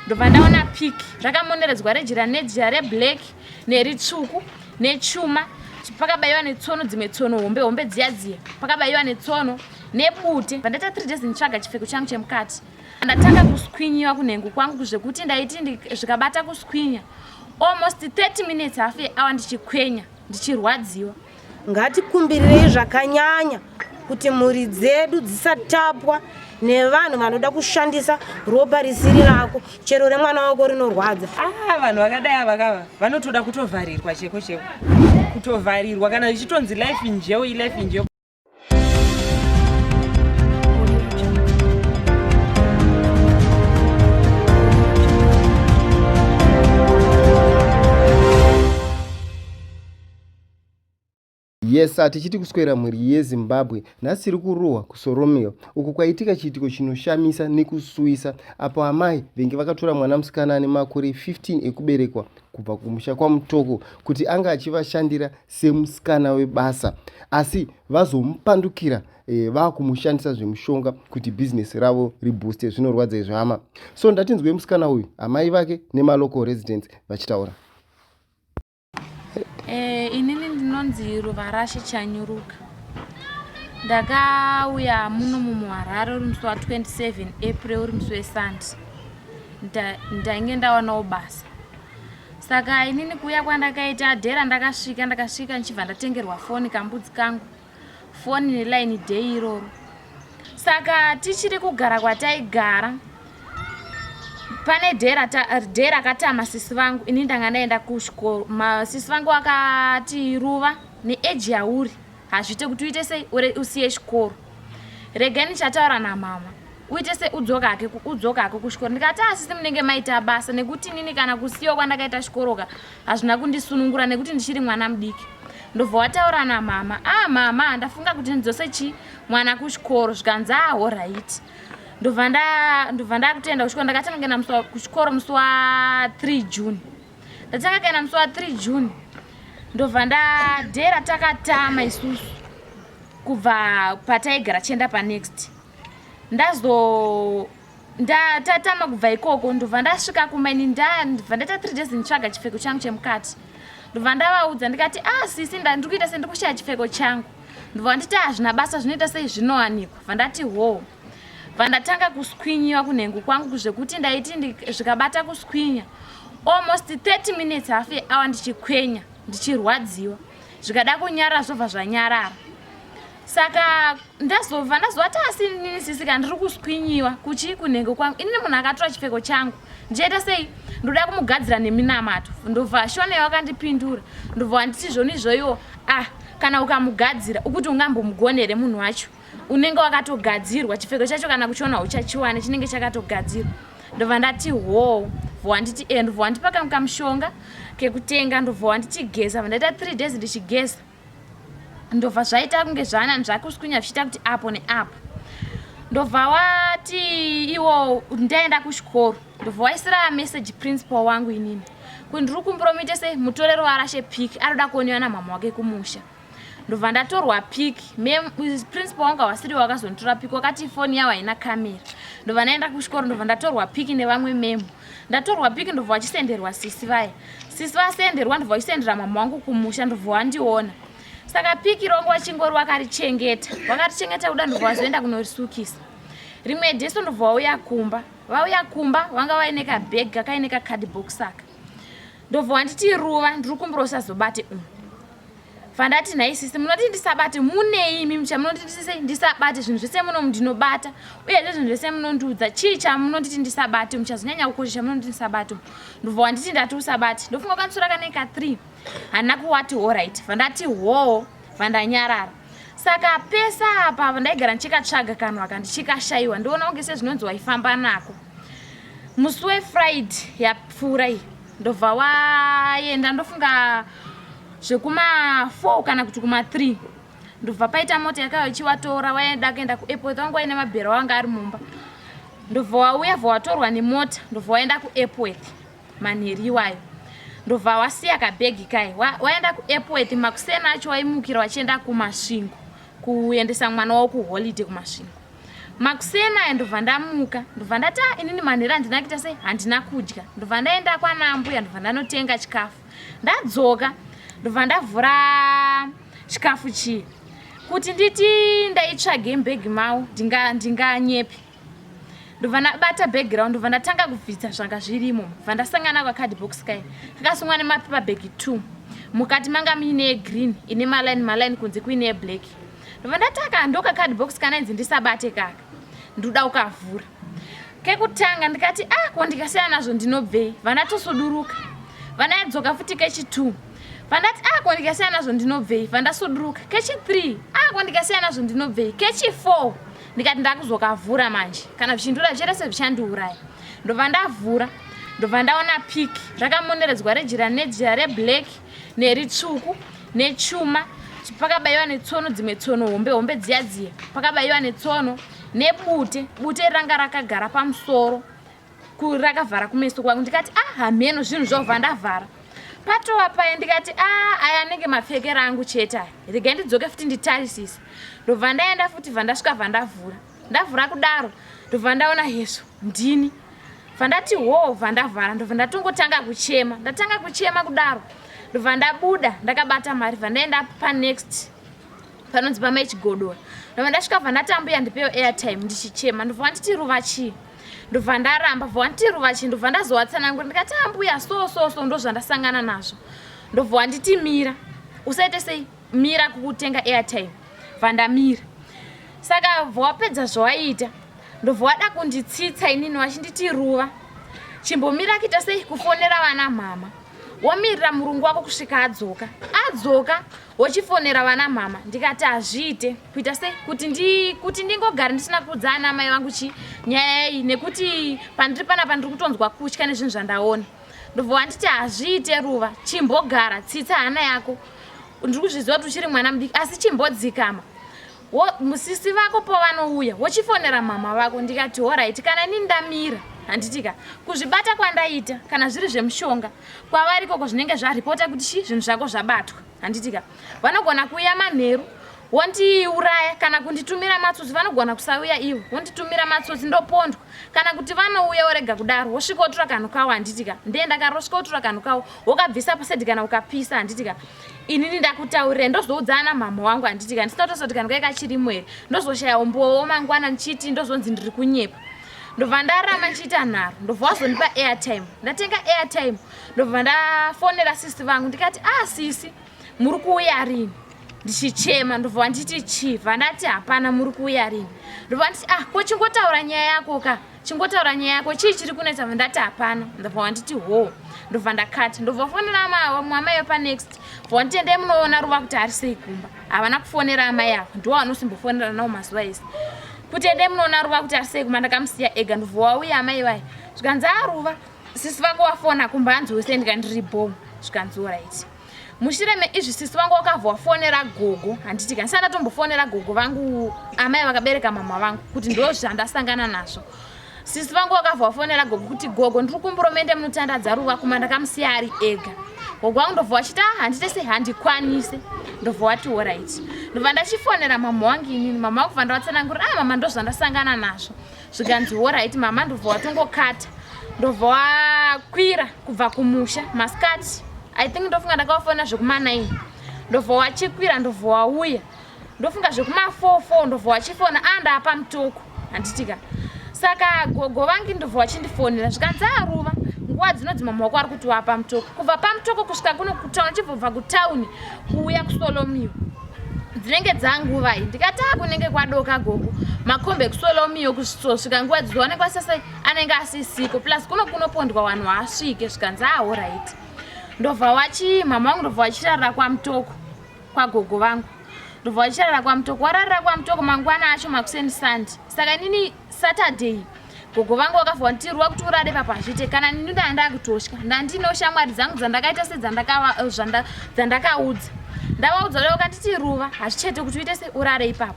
ndobva ndaona pik zvakamoneredzwa rejira nejira reblack neritsvuku nechuma pakabaiwa netsono dzimwe tsono hombe hombe dziya dziya pakabaiwa netsono nebute vandaita three days nditsvaga chipfeko changu chemukati ndatanga kuswinyiwa kunhengo kwangu zvekuti ndaiti zvikabata kuswinya almost 30 minutes half yehour ndichikwenya ndichirwadziwa Ngatikumbirei zvakanyanya kuti mhuri dzedu dzisatapwa nevanhu vanoda kushandisa ropa risiri rako chero remwana wako rinorwadza ah, vanhu vakadai avakava vanotoda kutovharirwa cheko cheko kutovharirwa kana ichitonzi life njeo ilife njeo yes hatichiti kuswera mhuri yezimbabwe nhasi tiri kurohwa kusoromeo uku kwaitika chiitiko chinoshamisa nekusuwisa apo amai venge vakatora mwana musikana ane makore 15 ekuberekwa kubva kumusha kwamutoko kuti anga achivashandira semusikana webasa asi vazomupandukira e, vakumushandisa zvemushonga kuti bhizinesi ravo ribooste zvinorwadza izvi hama so ndatinzwe musikana uyu amai vake nemalocal residents vachitaura e, inini ndinonzi ruvarashe chanyuruka ndakauya muno mumuharare uri musi wa 27 april uri musi wesande ndainge ndawanawo basa saka inini kuuya kwandakaita adhera ndakasvika ndakasvika ndichibva ndatengerwa foni kambudzi kangu foni nelaini day iroro saka tichiri kugara kwataigara pane dhera dhera akatama sisi vangu ini ndanga ndaenda kusvikoro sisi vangu vakati ruva neeji yauri hazviite kuti uite sei ure usiye chikoro regai ndichataura namama uite sei udzoka hake udzoka hake kuchikoro ndikati asisi munenge maita basa nekuti inini kana kusiyiwa kwandakaita chikoroka hazvina kundisunungura nekuti ndichiri mwana mudiki ndobva wataura namama ah mama ndafunga kuti ndidzose chi mwana kuchikoro zvikanzi aho ah, right ndobva ndakutenda kuchikoro ndakatanga kuenda kuchikoro musi wa 3 june ndatanga kuenda musi wa 3 june ndobva ndadera takatama isusu kubva pataigara chienda panext ndazo ndatatama kubva ikoko ndobva ndasvika kumaini ndabva ndaita 3 days nditsvaga chipfeko changu chemukati ndobva ndavaudza ndikati ah sisi ndandiri kuita sendiri kushaya chipfeko changu ndobva nditi hazvina basa zvinoita sei zvinowanikwa bva ndati hoo vandatanga kuskwinyiwa kunhengu kwangu kuzvekuti ndaiti zvikabata kuswinya almost 30 minutes half hour ndichikwenya ndichirwadziwa zvikada kunyara zvobva zvanyarara saka ndazova ndazovati asi inini sisika ndiri kuswinyiwa kuchii kunhengo kwangu inini munhu akatora chipfeko changu ndichaita sei ndoda kumugadzira neminamato ndobva shonei wakandipindura ndobva wanditi zvoni izvoiwo ah kana ukamugadzira ukuti ungambomugonere munhu wacho unenge wakatogadzirwa chipfeko chacho kana kuchiona hauchachiwane chinenge chakatogadzirwa ndobva ndati hoo bvo wanditi e eh, ndobva wandipa kam kamushonga kekutenga ndobva wanditi geza vandaita three days ndichigeza ndobva zvaita kunge zvanani zvakuswinya zvichiita kuti apo neapo ndobva wati iwo ndaenda kuchikoro ndobva waisira message principal wangu inini kuti ndiri kumpromite sei mutorero warashe pic anoda kuoniwa namama wake kumusha ndobva ndatorwa pic principal wanga wasiri wakazonditora pic wakati foni yavo haina camera ndobva ndaenda kuchikoro ndobva ndatorwa pic nevamwe memo ndatorwa pic ndobva vachisenderwa sisi vaya sisi vasenderwa ndobva vachisendera mama wangu kumusha ndobva wandiona saka pic rongo vachingori vakarichengeta vakarichengeta kuda ndobva vazoenda kunorisukisa rimwe deso ndobva vauya kumba vauya kumba vanga vaine kabheg kakaine kacardbox aka ndobva wanditi ruva ndiri kumbura usazobate umu vandati nhai sisi munoti ndisabate munei imi mucha munoti ndisise ndisabate zvinhu zvese muno ndinobata uyezve zvinhu zvese munondiudza chii chamunonditi ndisabate muchazonyanya kukocha chamunonditi ndisabate ndobva wanditi ndati usabate ndofunga kwatsura kaneka three handina kuwati horit vandati hoo vandanyarara saka pesa apa vandaigara ndichikatsvaga kanhu aka ndichikashayiwa ndiona kunge sezvinonzi waifamba nako musi wefriday yapfuura iyi ndobva waenda ndofunga zvekuma 4 kana kuti kuma 3 ndobva paita mota yakauya ichivatora waida kuenda kuairport wanga waine mabhera wanga ari mumba ndobva wauya bva watorwa nemota ndobva waenda kuairport manheri iwayo ndobva wasiya kabhegi kai waenda kuairport makuseni acho waimukira wachienda kumasvingo kuendesa mwana wavo kuholiday kumasvingo makuseni aya ndobva ndamuka ndobva ndati ah, inini manhero handina kuita sei handina kudya ndobva ndaenda kwanambuya ndobva ndanotenga chikafu ndadzoka ndobva ndavhura chikafu chii kuti nditi ndaitsvage mbhegi mavo ndinganyepi ndobva ndabata background ndobva ndatanga kubvisa zvanga zvirimo bva ndasangana kwacard box kai kakasungwa nemapepa bag two mukati manga muine yegreen ine maline maline kunze kuine yeblack ndobva ndataka ndoka card box kana inzi ndisabate kaka ndoda ukavhura kekutanga ndikati a ah, ko ndikasiya nazvo ndinobvei vandatosuduruka vanayadzoka futi kechi two vandati a ah, ko ndikasiya nazvo ndinobvei vandasuduruka kechi three a ah, ko ndikasiya nazvo ndinobvei kechi four ndikati ndakuzokavhura manje kana zvichindura zvicherese zvichandiuraya ndobva ndavhura ndobva ndaona pik rakamoneredzwa rejira nejira reblack neritsvuku nechuma pakabayiwa netsono dzimwe tsono hombe hombe dziya dziya pakabayiwa netsono nebute bute ranga rakagara pamusoro rakavhara kumeso kwangu ndikati a ah, hameno zvinhu zvovha ndavhara patova paye ndikati a ah, aya anenge mapfekero angu chete aya regai ndidzoke futi nditarisise ndobva ndaenda futi bva ndasvika bva ndavhura ndavhura kudaro ndobva ndaona hezvo ndini bva ndati hoo bva ndavhara ndobva ndatongotanga kuchema ndatanga kuchema kudaro ndobva ndabuda ndakabata mari bva ndaenda panext panonzi pamaichigodora ndobva ndasvika bva ndatambuya ndipewo airtime ndichichema ndobva wanditi ruva chii ndobva ndaramba bva wanditi ruvachi ndobva ndazowatsanangura ndikati ambuya ah, so so so ndozvandasangana nazvo ndobva wanditi mira usaite sei mira kukutenga airtime bva ndamira saka bva wapedza zvawaiita ndobva wada kunditsitsa inini wachinditi ruva chimbomira kuita sei kufonera vana mhama womirira murungu wako kusvika adzoka adzoka wochifonera vana mhama ndikati hazviite kuita sei kuti ndi kuti ndingogara ndisina kuudza ana amai vangu chi nyaya iyi nekuti pandiri panapa ndiri kutonzwa kutya nezvinhu zvandaona ndobva wanditi hazviite ruva chimbogara tsitsa hana yako ndiri kuzviziva kuti uchiri mwana mudiki asi chimbodzikama musisi vako pavanouya wochifonera mama vako ndikati horaiti kana ini ndamira handitika kuzvibata kwandaita kana zviri zvemushonga kwavarikoko zvinenge zvaripota kuti chi zvinhu zvako zvabatwa handitika vanogona kuuya manheru wondiuraya kana kunditumira matsotsi vanogona kusauya ivo wonditumira matsotsi ndopondwa kana kuti vanouya worega kudaro wosvika wotura kanhu kawo handiti ka ndee ndakaro wosvika wotura kanhu kawo wokabvisa pasedi kana ukapisa handiti ka inini ndakutaurira ndozoudza ana mhamha wangu handiti ka ndisina kutosoti kanhu kai kachirimo here ndozoshaya umbowo mangwana ndichiti ndozonzi ndiri kunyepa ndobva ndarama ndichiita nharo ndobva wazondipa airtime ndatenga airtime ndobva ndafonera sisi vangu ndikati ah sisi muri kuuya rini ndichichema ndobva wanditi chief andati hapana muri kuuya rini ndobva wanditi ah ko chingotaura nyaya yako ka chingotaura nyaya yako chii chiri kunetsa bva ndati hapana ndobva wanditi hoo ndobva ndakati ndobva fonera vamwe amai vepanext bva wanditi endai munoona ruva kuti ari sei kumba havana kufonera amai avo ndiwo vanosimbofonera nawo mazuva ese kuti endai munoona ruva kuti ari sei kumba ndakamusiya ega ndobva wauya amai vaye zvikanzi aruva sisi vako wafona kumba hanzi wese ndikandiri bom zvikanzi orit mushure meizvi sisi vangu wakabva wafonera gogo handiti ka ndisati ndatombofonera gogo vangu amai vakabereka mama vangu kuti ndo zvandasangana nazvo sisi vangu wakabva wafonera gogo kuti gogo ndiri kumburo mende munotandadza ruva kuma ndakamusiya ari ega gogo wangu ndobva wachiti ah, handite se handikwanise ndobva wati orit ndobva ndachifonera mama wangu inini mama wangu bva ndavatsanangurira a ah, mama ndozvandasangana nazvo zvikanzi horaiti mama ndobva watongokata ndobva wakwira kubva kumusha masikati i think ndofunga ndakavafonera zvekumanaini ndobva wachikwira ndobva wauya ndofunga zvekumafofo ndobva wachifona a ah, ndaapa mutoko handitika saka gogo vangi ndobva wachindifonera zvikanzi aruva ah, nguva dzinodzi mama wako ari kuti wapa mutoko kubva pamutoko kusvika kuno kutaun chibvobva kutauni kuuya kusolomio dzinenge dzanguvai ndikataa kunenge kwadoka gogo makombe ekusola umiyo kusvika nguva dzizoonekwa sese anenge asisiko plus kuno kunopondwa wanhu waasvike zvikanzi ahoraiti ndobva wachi mama wangu ndobva wachirarira kwamutoko kwagogo vangu ndobva wachirarira kwamutoko wararira kwamutoko mangwana acho makuseni sandi saka inini saturday gogo vangu vakavhwa kuti rwa kuti urare papa hazviite kana nini ndanga ndakutosha ndandinewo shamwari dzangu dzandakaita se eh, dzandakaudza ndavaudza leo kanditi ruva hazvichete kuti uite se urare ipapo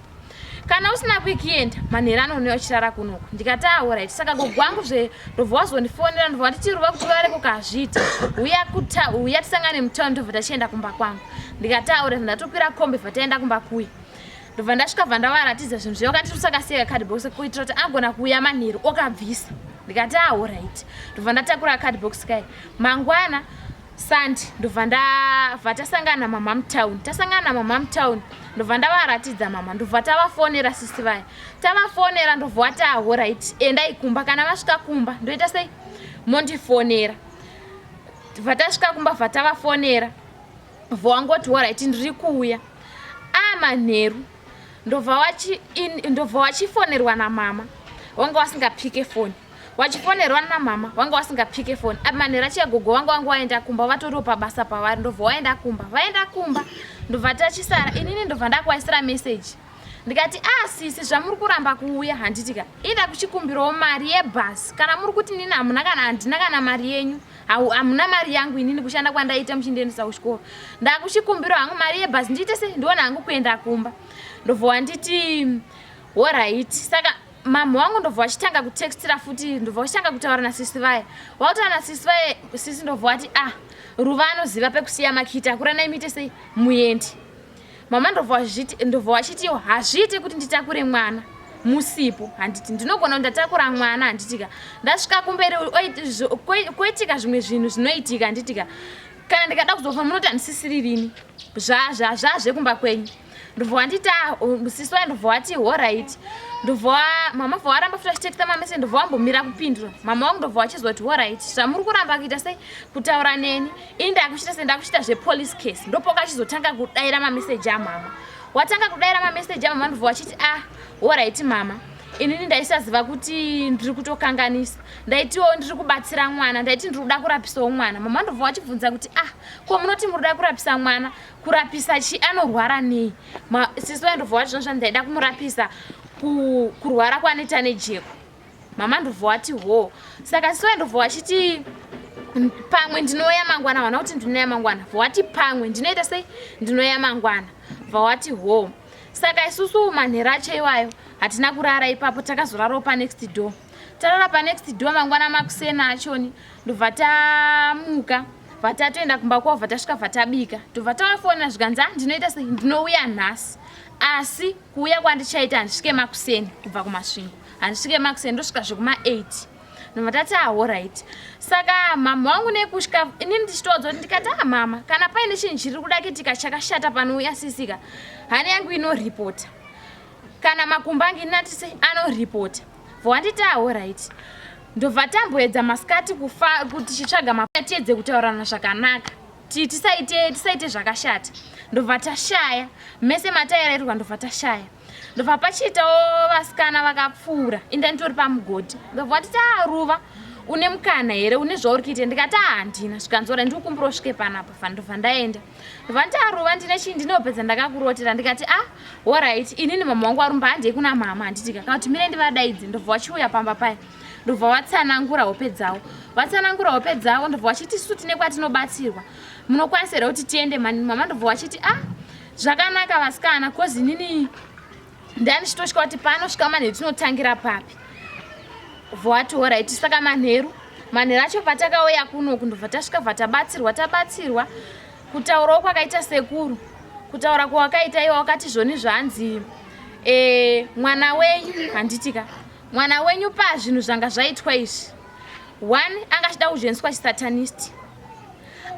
kana usina kuikienda manhero anonewa uchirara kunoku ndikati aorit saka gogo wangu zve ndobva wazondifonera ndobva wanditi ruva kuti urare kuka hazviite uya tisangane mutown ndobva tachienda kumba kwangu ndikati aorit ndatokwira kombe bva taenda kumba kuye ndobva ndasvika bva ndavaratidza zvinhu zvayo kati tusakasiyeka cardbox kuitira kuti agona kuuya manheru okabvisa ndikati ahorit ah, ndobva ndatakura cardbox kai mangwana sandi ndobva ndabva tasangana namamam town tasangana namamam town ndobva ndavaratidza mama ndobva tavafonera sisi vaya tavafonera ndobva wati ahorit ah, endai kumba kana vasvika kumba ndoita sei mondifonera bva tasvika kumba bva tavafonera Mvo wangoti waraiti ndiri kuuya aa manheru ndobva wachifonerwa namama wanga wasingapike foni wachifonerwa namama wanga wasingapike foni aa manheru achiagogo wanga wanga waenda kumba vatoriwo pabasa pavari ndobva waenda kumba vaenda kumba ndobva tachisara inini ndobva ndakuvaisira meseji ndikati a ah, sisi zvamuri kuramba kuuya handitika ida kuchikumbirawo mari yebhasi kana muri kuti nini hamuna kana handina kana mari yenyu hau hamuna mari yangu inini kushanda kwandaita muchindiendesa kuchikoro ndakuchikumbiro hangu mari yebhazi ndiite sei ndiona hangu kuenda kumba ndobva wanditi horaiti saka mamha wangu ndobva wachitanga kutextira futi ndobva wachitanga kutaura nasisi vaye wakutaura nasisi vaye sisi ndobva wati ah ruva anoziva pekusiya makiti akura naimite sei muendi Mama ndobva wazviti ndobva wachiti yo hazviite kuti nditakure mwana musipo handiti ndinogona ndatakura mwana handitika ndasvika kumberi koitika zvimwe zvinhu zvinoitika handitika kana ndikada kuzofa munoti handisisiri rini zvazva zvazvekumba kwenyu ndobva wandita musisi waye ndobva wati horaiti ndobva mama bva waramba futi achitekita mamese ndobva wambomira kupindura mama wangu ndobva wachizoti horaiti zvamuri kuramba kuita sei kutaura neni ini ndakuchita se ndakuchita zvepolice case ndopokachizotanga kudaira mameseji amama watanga kudaira mameseji amama ndobva wachiti a ah, horaiti mama inini ndaisaziva kuti ndiri kutokanganisa ndaitiwo ndiri kubatsira mwana ndaiti ndiri kuda kurapisawo mwana mama ndobva wachibvunza kuti ah ko munoti muri kuda kurapisa mwana kurapisa chi anorwara nei sisi waindobva wati zvino zvandaida kumurapisa kurwara kwaneta nejeko mama ndobva wati hoo saka sisi waye ndobva wachiti pamwe ndinoya mangwana vana kuti ndinoya mangwana bva wati pamwe ndinoita sei ndinoya mangwana bva wati hoo saka isusu manhero acho iwayo hatina kurara ipapo takazorarawo panext door tarara panext door mangwana makusena achoni ndobva tamuka bva tatoenda kumba kwavo bva tasvika bva tabika ndobva tavafonera zvikanzi a ah, ndinoita sei ndinouya nhasi asi kuuya kwandichaita handisvike makuseni kubva kumasvingo handisvike makuseni ndosvika zvekuma 8 nobva tati ahorit ah, saka mama wangu nekusvika ini ndichitowadza kuti ndikati a ah, mama kana paine chinhu chiri kuda kitika chakashata pano uyasisika hana yangu inoripota kana makumba angu inatise anoripota bva wanditi ahorit ah, ndobva tamboedza masikati kufa kuti chitsvaga mapa tiedze kutaurana zvakanaka tisaite tisaite zvakashata ndobva tashaya mese mataererwa ndobva tashaya ndobva pachiitawo vasikana vakapfuura inda nditori pamugodhi ndobva wati taaruva une mukana here une zvauri kuita ndikati ahandina zvikanzora ndiri kumbura usvike panapa fandova ndaenda ndovandiaruva ndine chii ndinopedza ndakakurotera ndikati a ah, horit inini mama wangu arumba handei kuna mama handiti kakana kuti mire ndivadaidzi ndobva vachiuya pamba paya ndobva vatsanangura hope dzavo vatsanangura hope dzavo ndobva vachiti su tine kwatinobatsirwa munokwanisa here kuti tiende mani mama ndobva vachiti a ah, zvakanaka vasikana coz inini ndandichitosvika kuti panosvika manheru tinotangira papi vowati horaiti saka manheru manheru acho patakauya kuno kundobva tasvika bva tabatsirwa tabatsirwa kutaurawo kwakaita sekuru kutaura kwawakaita iwe wakati zvoni zvanzi e, mwana wenyu handitika mwana wenyu pazvinhu zvanga zvaitwa izvi one anga achida kujoiniswa chisatanist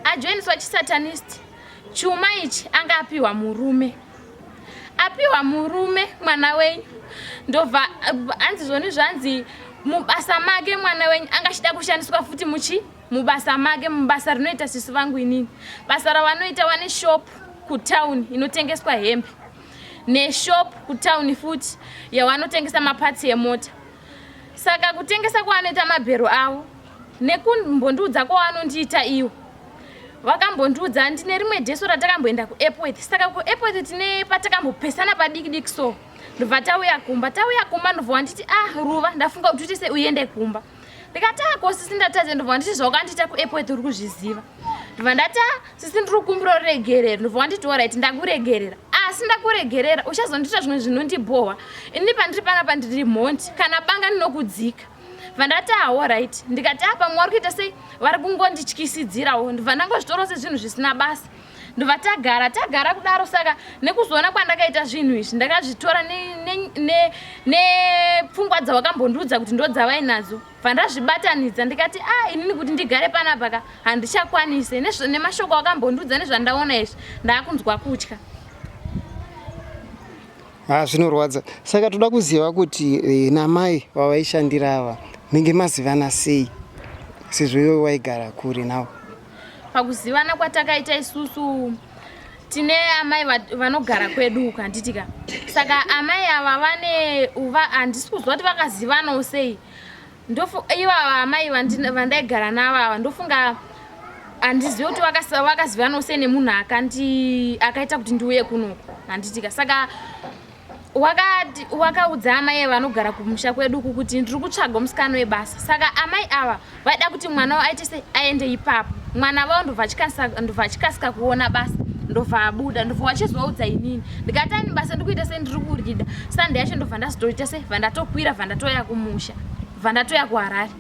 ajoiniswa chisatanist Chuma ichi anga apiwa murume. Apiwa murume mwana wenyu. Ndobva hanzi zvoni zvanzi mubasa make mwana wenyu anga achida kushandiswa futi muchi mubasa make mubasa rinoita sisi vangu inini. Basa ravanoita wane shop kutown inotengeswa hembe. Neshop kutown futi yawanotengesa mapatsi emota. saka kutengesa kwaanoita mabhero avo nekumbondiudza kwaanondiita iwo vakambondiudza andi nerimwe jesu ratakamboenda kuepworth saka kuepworth tine patakambopesana padiki diki so ndobva tauya kumba tauya kumba ndobva wanditi ah ruva ndafunga kuti uite se uende kumba ndikati ah kosisi ndatadze ndobva wanditi zvaukandiita kuepworth uri kuzviziva ndobva ndati ah, sisi ndiri kukumbira uregerera ndobva wanditi orit ndakuregerera asi ndakuregerera uchazondiita zvimwe zvinondibhohwa ini pandiri panga pandiri mhondi kana banga ndinokudzika bva ndati ahorit ah, ndikati apa ah, mwe wari kuita sei vari kungondityisidzirawo ndobva ndangozvitora sezvinhu zvisina basa ndobva tagara tagara kudaro saka nekuzoona kwandakaita zvinhu izvi ndakazvitora nepfungwa dzawakambondiudza kuti ndodzavainadzo pandazvibatanidza ndikati a ah, inini kuti ndigare panapa ka handichakwanise nemashoko akambondiudza nezvandaona izvi ndaakunzwa kutya ha ah, zvinorwadza saka toda kuziva kuti eh, namai vavaishandira ava menge mazivana sei sezvo iwe waigara kure nawo pakuzivana kwatakaita isusu tine amai vanogara kwedu uku handitika saka amai ava vane uva handisi kuziva kuti vakazivanawo sei ivava amai vandaigara navo ava ndofunga handizive kuti vakazivanawo sei nemunhu akaita kuti ndiuye kunoku handitika saka wakati wakaudza amai ava vanogara kumusha kwedu uku kuti ndiri kutsvaga musikana webasa saka amai ava vaida kuti mwana wavo aite sei aende ipapo mwana vavo ndobva achikasika kuona basa ndobva abuda ndobva wachizovaudza inini ndikati ani basa ndikuita sei ndiri kurida sande yacho ndobva ndazotoita sei bva ndatokwira bva ndatoya kumusha bva ndatoya kuharare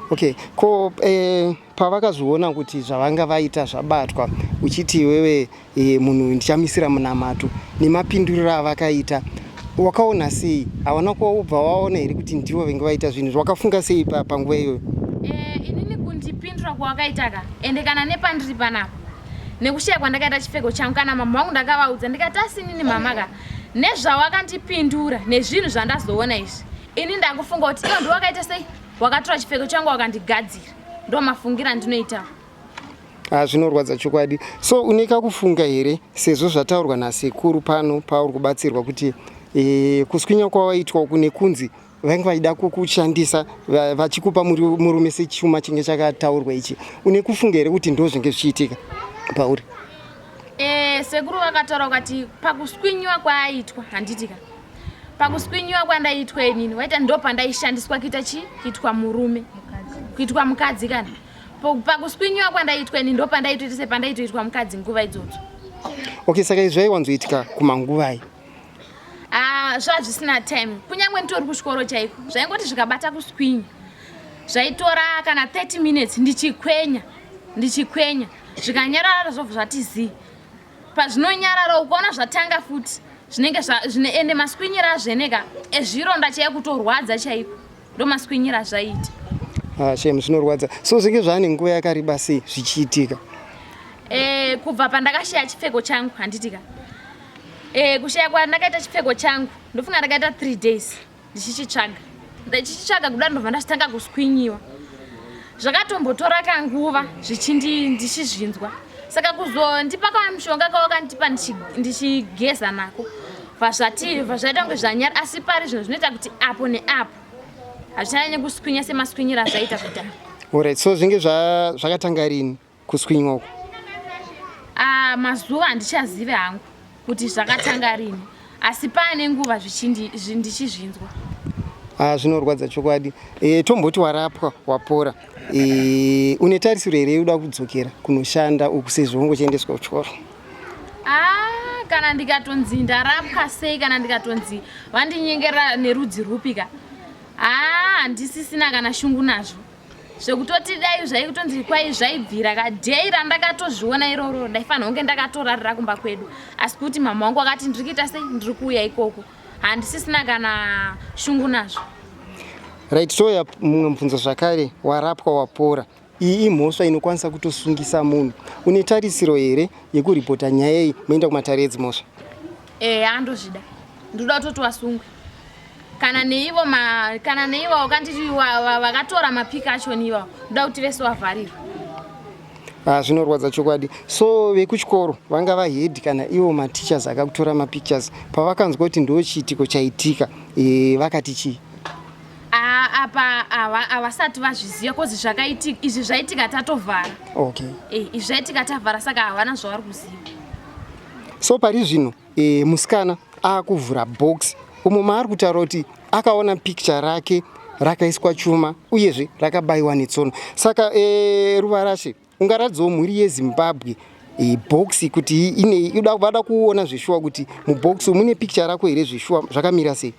okay ko eh, Pavakazviona kuti zvavanga vaita zvabatwa uchiti iwewe e, munhu ndichamisira munamato nemapinduriro avakaita wakaona sei hawana kuva ubva waona here kuti ndivo venge vaita zvinhu izvi wakafunga sei panguva iyoyo eh, inini kundipindura kwawakaitaka ende kana nepandiri panapa nekushaya kwandakaita chipfeko changu kana mama vangu ndakavaudza ndikati asinini mamaka nezvawakandipindura nezvinhu zvandazoona izvi ini ndakufunga kuti iyo ndiwakaita sei wakatora chipfeko changu wakandigadzira ndo mafungira andinoita ah, zvinorwadza chokwadi so une kakufunga here sezvo zvataurwa nasekuru pano pauri kubatsirwa kuti e, kuswinya kwawaitwa uku nekunzi vange vaida kukushandisa vachikupa murume sechuma chinge chakataurwa ichi une kufunga here kuti ndo zvinge zvichiitika pauri e, sekuru vakataura kukati pakuswinyiwa kwaaitwa handitika pakuswinyiwa kwandaitwa inini waita ndo pandaishandiswa kuita chi kuitwa murume kuitwa mukadzi kana pakuswinyiwa kwandaitwa inini ndo pandaitoita sepandaitoitwa mukadzi nguva idzodzo okay saka izvi zvaiwanzoitika kumanguvai ah, zvazvisina time kunyange nditori kuchikoro chaiko zvaingoti zvikabata kuswinya zvaitora kana 30 minutes ndichikwenya ndichikwenya zvikanyarara zvobva zvati zii pazvinonyarara ukaona zvatanga futi zvinenge zvine ende maskwinyira azveneka ezvironda chaiye kutorwadza chaiko ndo maskwinyira zvaita ah, shem zvinorwadza so zvinge zvaane nguva yakareba sei zvichiitika e, kubva pandakashaya chipfeko changu handitika e, eh, kushaya kwandakaita chipfeko changu ndofunga ndakaita three days ndichichitsvaga ndichichitsvaga kuda ndobva ndachitanga kuswinyiwa zvakatombotora kanguva zvichindi ndichizvinzwa saka kuzondipa kava mushonga kawakandipa ndichigeza nako vazvati vazvaita kunge zvanyara asi pari zvinhu zvinoita kuti apo neapo hazvichanyanye kuswinya semaswinyira azvaita kudhara orit so zvinge zvakatanga rini kuswinywa uku ah, mazuva handichazive hangu kuti zvakatanga rini asi paane nguva ndichizvinzwa ah, zvinorwadza chokwadi e, tomboti warapwa wapora e, une tarisiro here yoda kudzokera kunoshanda uku sezvo ungochiendeswa kuchikoro ah, kana ndikatonzi ndarapwa sei kana ndikatonzi vandinyengera nerudzi rwupi ka ah, handisisina kana shungu nazvo zvekutoti dai zvaikutonzi kwai zvaibvira kadhei randakatozviona iroro ndaifanira kunge ndakatorarira kumba kwedu asi kuti mama wangu akati ndiri kuita sei ndiri kuuya ikoko handisisina kana shungu nazvo right toya mumwe mubvunzo zvakare warapwa wapora iyi imhosva inokwanisa kutosungisa munhu une tarisiro here yekuripota nyaya iyi moenda kumatare edzimhosva eya ndozvida ndoda kutoti wasungwe kana neivo kana neivo wakanditi vakatora mapika acho neivo ndoda kuti vese wavharirwa ah, zvinorwadza chokwadi so vekuchikoro vanga vahedi kana ivo mateachers akakutora mapictures pavakanzwa kuti ndo chiitiko chaitika e, vakati chii apa havasati vazviziva kozi zvakaitika izvi zvaitika tatovhara okay. e, izvi zvaitika tavhara saka havana zvavari kuziva so pari zvino e, musikana akuvhura box umo maari kutaura kuti akaona picture rake rakaiswa chuma uyezve rakabayiwa netsono saka e, ruvarashe ungaratidzawo mhuri yezimbabwe e, box kuti inei vada kuona zveshuwa kuti mubox mune picture rako here zveshuwa zvakamira sei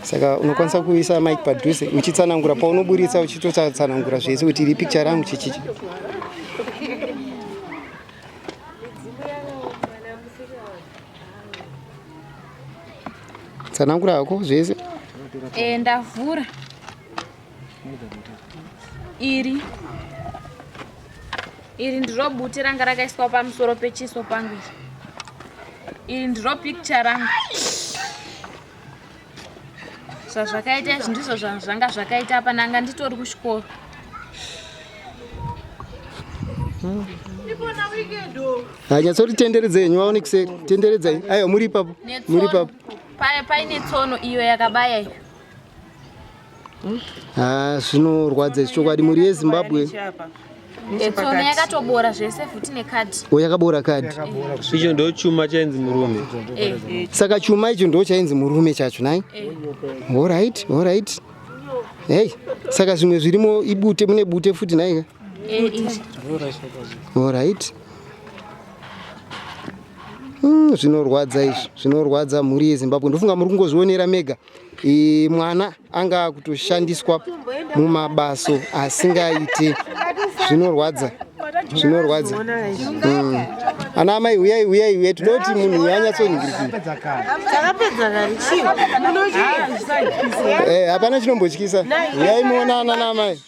saka unokwanisa kuisa mike padhuze uchitsanangura paunoburitsa uchitotsanangura zvese kuti iri picture rangu chichichi tsanangura hako zvese eh, ndavhura iri iri ndiro bute ranga rakaiswa pamusoro pechiso pangu iri iri ndiro picture rangu zvazvakaita izvi ndizvo zvanga zvakaita apa nanga nditori kuchikoro hanyatsoti tenderedza henyu vaone kuseri tenderedzai aiwa muri ipapo muri ipapo paine tsono iyo yakabaya iyo Ah, zvinorwadza izvi chokwadi mhuri yezimbabwe Etsona yakatobora zvese futi nekadhi. o yakabora kadhi icho ndo chuma chainzi murume Eh, saka chuma icho ndo chainzi murume chacho nai eh. orit orit hei saka zvimwe zvirimo ibute mune bute futi naika Eh, izvi. orit Hmm, zvinorwadza izvi zvinorwadza mhuri yezimbabwe ndofunga muri kungozvionera mega e, mwana anga akutoshandiswa mumabaso asingaite zvinorwadza zvinorwadza mm. ana amai huyai huyai huyai tinoda kuti munhu uyo anyatsoningirikii eh, hapana chinombotyisa huyai muonana naamai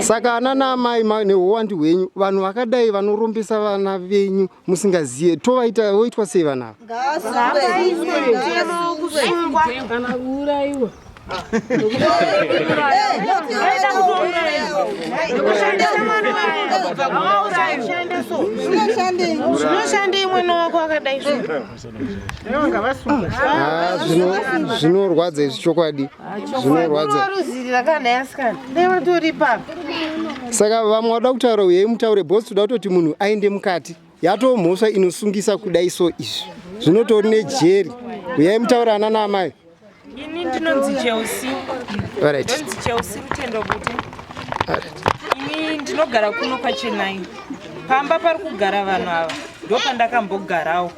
saka ana naamai neuwandu hwenyu vanhu vakadai vanorombesa vana venyu musingazive tovaita voitwa sei vana ava zvinoshandei mwana wako akadai Ah, zvino- zvinorwadza izvi chokwadi zvinorwadza saka vamwe vada kutaura uyei mutaure bos toda kutoti munhu aende mukati yatoo mhosva inosungisa kudai so izvi zvinotori nejeri uyai mutaure ana naamai Ini ndinonzi Chelsea. Alright. Ndinonzi Chelsea Rutendo Bute. Alright. Ini ndinogara kuno kwaChennai. Pamba pari kugara vanhu ava ndopandakambogarawo.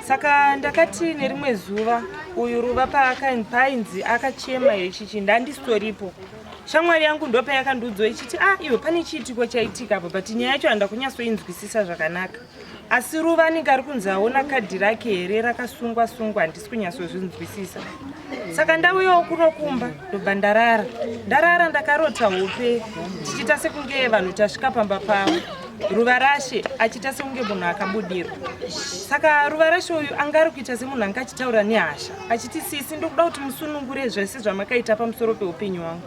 Saka ndakati nerimwe zuva uyu Ruva paainzi akachema yechichi ndandisitoripo. Shamwari yangu ndopayakandiudzwa ichiti ah iwe pane chiitiko chaitika apa but nyaya yacho handakunyatsoinzwisisa zvakanaka. asi ruva anenge ari kunzi aona kadhi rake here rakasungwa sungwa handisi kunyatsozvinzwisisa saka ndauyawo kuno kumba ndobva ndarara ndarara ndakarota hope tichiita sekunge vanhu tasvika pamba pavo ruva rashe achiita sekunge munhu akabudirwa saka ruva rashe uyu anga ari kuita semunhu anga achitaura nehasha achiti sisi ndokuda kuti musunungure zvese zvamakaita pamusoro peupenyu wangu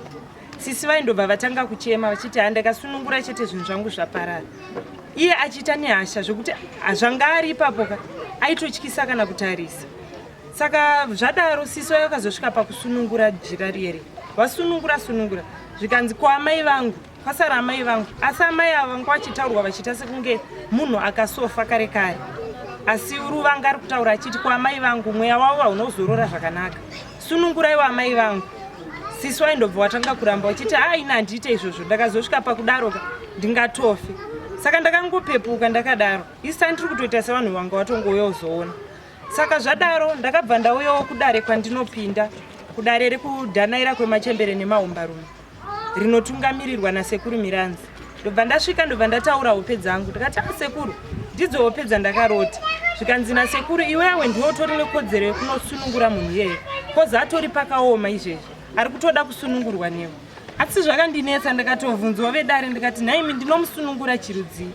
sisi vaindobva vatanga kuchema vachiti handakasunungura chete zvinhu zvangu zvaparara iye achiita nehasha zvekuti zvanga ari ipapo ka aitotyisa kana kutarisa saka zvadaro sisi vaye vakazosvika pakusunungura jira riere vasunungura sunungura zvikanzi kwaamai vangu kwasara amai vangu asi amai ava vanga vachitaurwa vachiita sekunge munhu akasofa kare kare asi ruvanga ari kutaura achiti kwaamai vangu mweya wavo haunozorora zvakanaka sununguraiwo amai vangu sisi waindobva watanga kuramba uchiti haa ini handiite izvozvo ndakazosvika pakudaroka ndingatofe saka ndakangopepuka ndakadaro isani ndiri kutoita sevanhu vanga watongouya uzoona saka zvadaro ndakabva ndauyawo kudare kwandinopinda kudare rekudhanaira kwemachembere nemahumbarume rinotungamirirwa nasekuru miranzi ndobva ndasvika ndobva ndataura hope dzangu ndikati ah, sekuru ndidzo hope dzandakarota zvikanzi nasekuru iwe awe ndiwe utori nekodzero yekunosunungura munhu iyeye kozi atori pakaoma izvezvi ari kutoda kusunungurwa newe asi zvakandinetsa ndakatovhunzwa vedare ndikati nhaimi ndinomusunungura chirudzii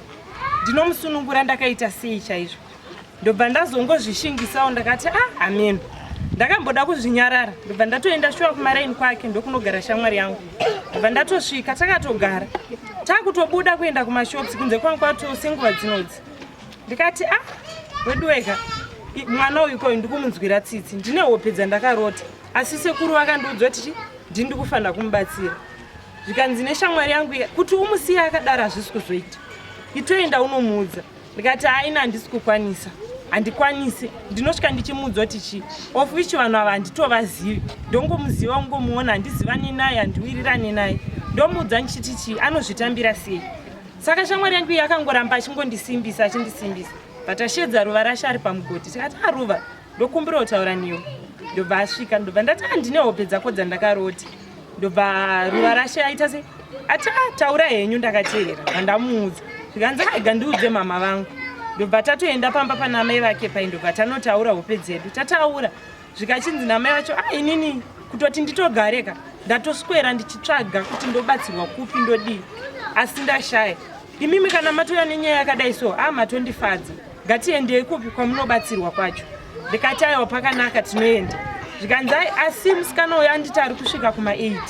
ndinomusunungura ndakaita sei chaizvo ndobva ndazongozvishingisawo ndakati ah ameno ndakamboda kuzvinyarara ndobva ndatoenda shuwa kumaraini kwake ndokunogara shamwari yangu ndobva ndatosvika takatogara takutobuda kuenda kumashops kunze kwangu kwato senguva dzinodzi ndikati ah wedu wega mwana uyu koyu ndikumunzwira tsitsi ndine hope dzandakarota asi sekuru vakandiudzwa tichi ndini ndikufanira kumubatsira zvikanzi neshamwari yangu kuti umusiye akadaro hazvisi kuzoita itoenda unomuudza ndikati aina handisi kukwanisa handikwanisi ndinosvika ndichimuudza kuti chii of which vanhu ava handitovazivi ndongomuziva ungomuona handizivani naye handiwirirani naye ndomuudza ndichiti chii anozvitambira sei saka shamwari yangu iyi akangoramba achingondisimbisa achindisimbisa but ashedza ruva rashe ari pamugoti tikati aruva ah, ndokumbira kutaura niwo ndobva asvika ndobva ndati handine ah, hope dzako dzaNdakaroti ndobva ruva rashe aita se ati ah, taura henyu ndakateerera vandamuudza zvikanzi aiga ndiudze mama vangu ndobva tatoenda pamba pana amai vake pai ndobva tanotaura hope dzedu tataura zvikachinzi namai vacho a ah, inini kutoti nditogareka ndatoswera ndichitsvaga kuti ndobatsirwa kupi ndodii asi ndashaya imimi kana matouya nenyaya yakadai so a ah, matondifadza ngatiendei kupi kwamunobatsirwa kwacho ndikati aiwa pakanaka tinoenda zvikanzi ai asi musikana uyo anditi ari kusvika kuma8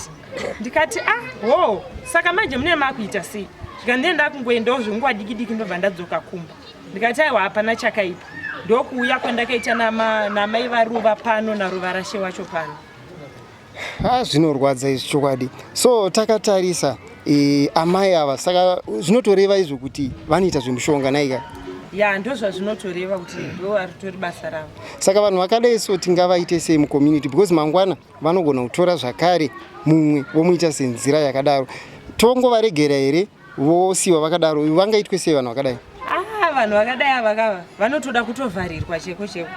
ndikati ah hoo saka manje mune makuita sei zvikandiye ndakungoendawo zvenguva diki diki ndobva ndadzoka kumba ndikati aiwa hapana chakaipa ndokuuya kwandakaita namai varuva pano naruva rashe wacho pano Ha zvinorwadza izvi chokwadi. So takatarisa e, amai ava saka zvinotoreva izvo kuti vanoita zvemushonga naika. Ya ndozvazvinotoreva kuti ndo aritori basa ravo. Saka vanhu vakadai so tingavaite sei mu community because mangwana vanogona kutora zvakare mumwe vomuita senzira yakadaro. Tongovaregera here vosiwa vakadaro vangaitwe sei vanhu vakadai ah, vanhu vakadai avakava vanotoda kutovharirwa cheko cheko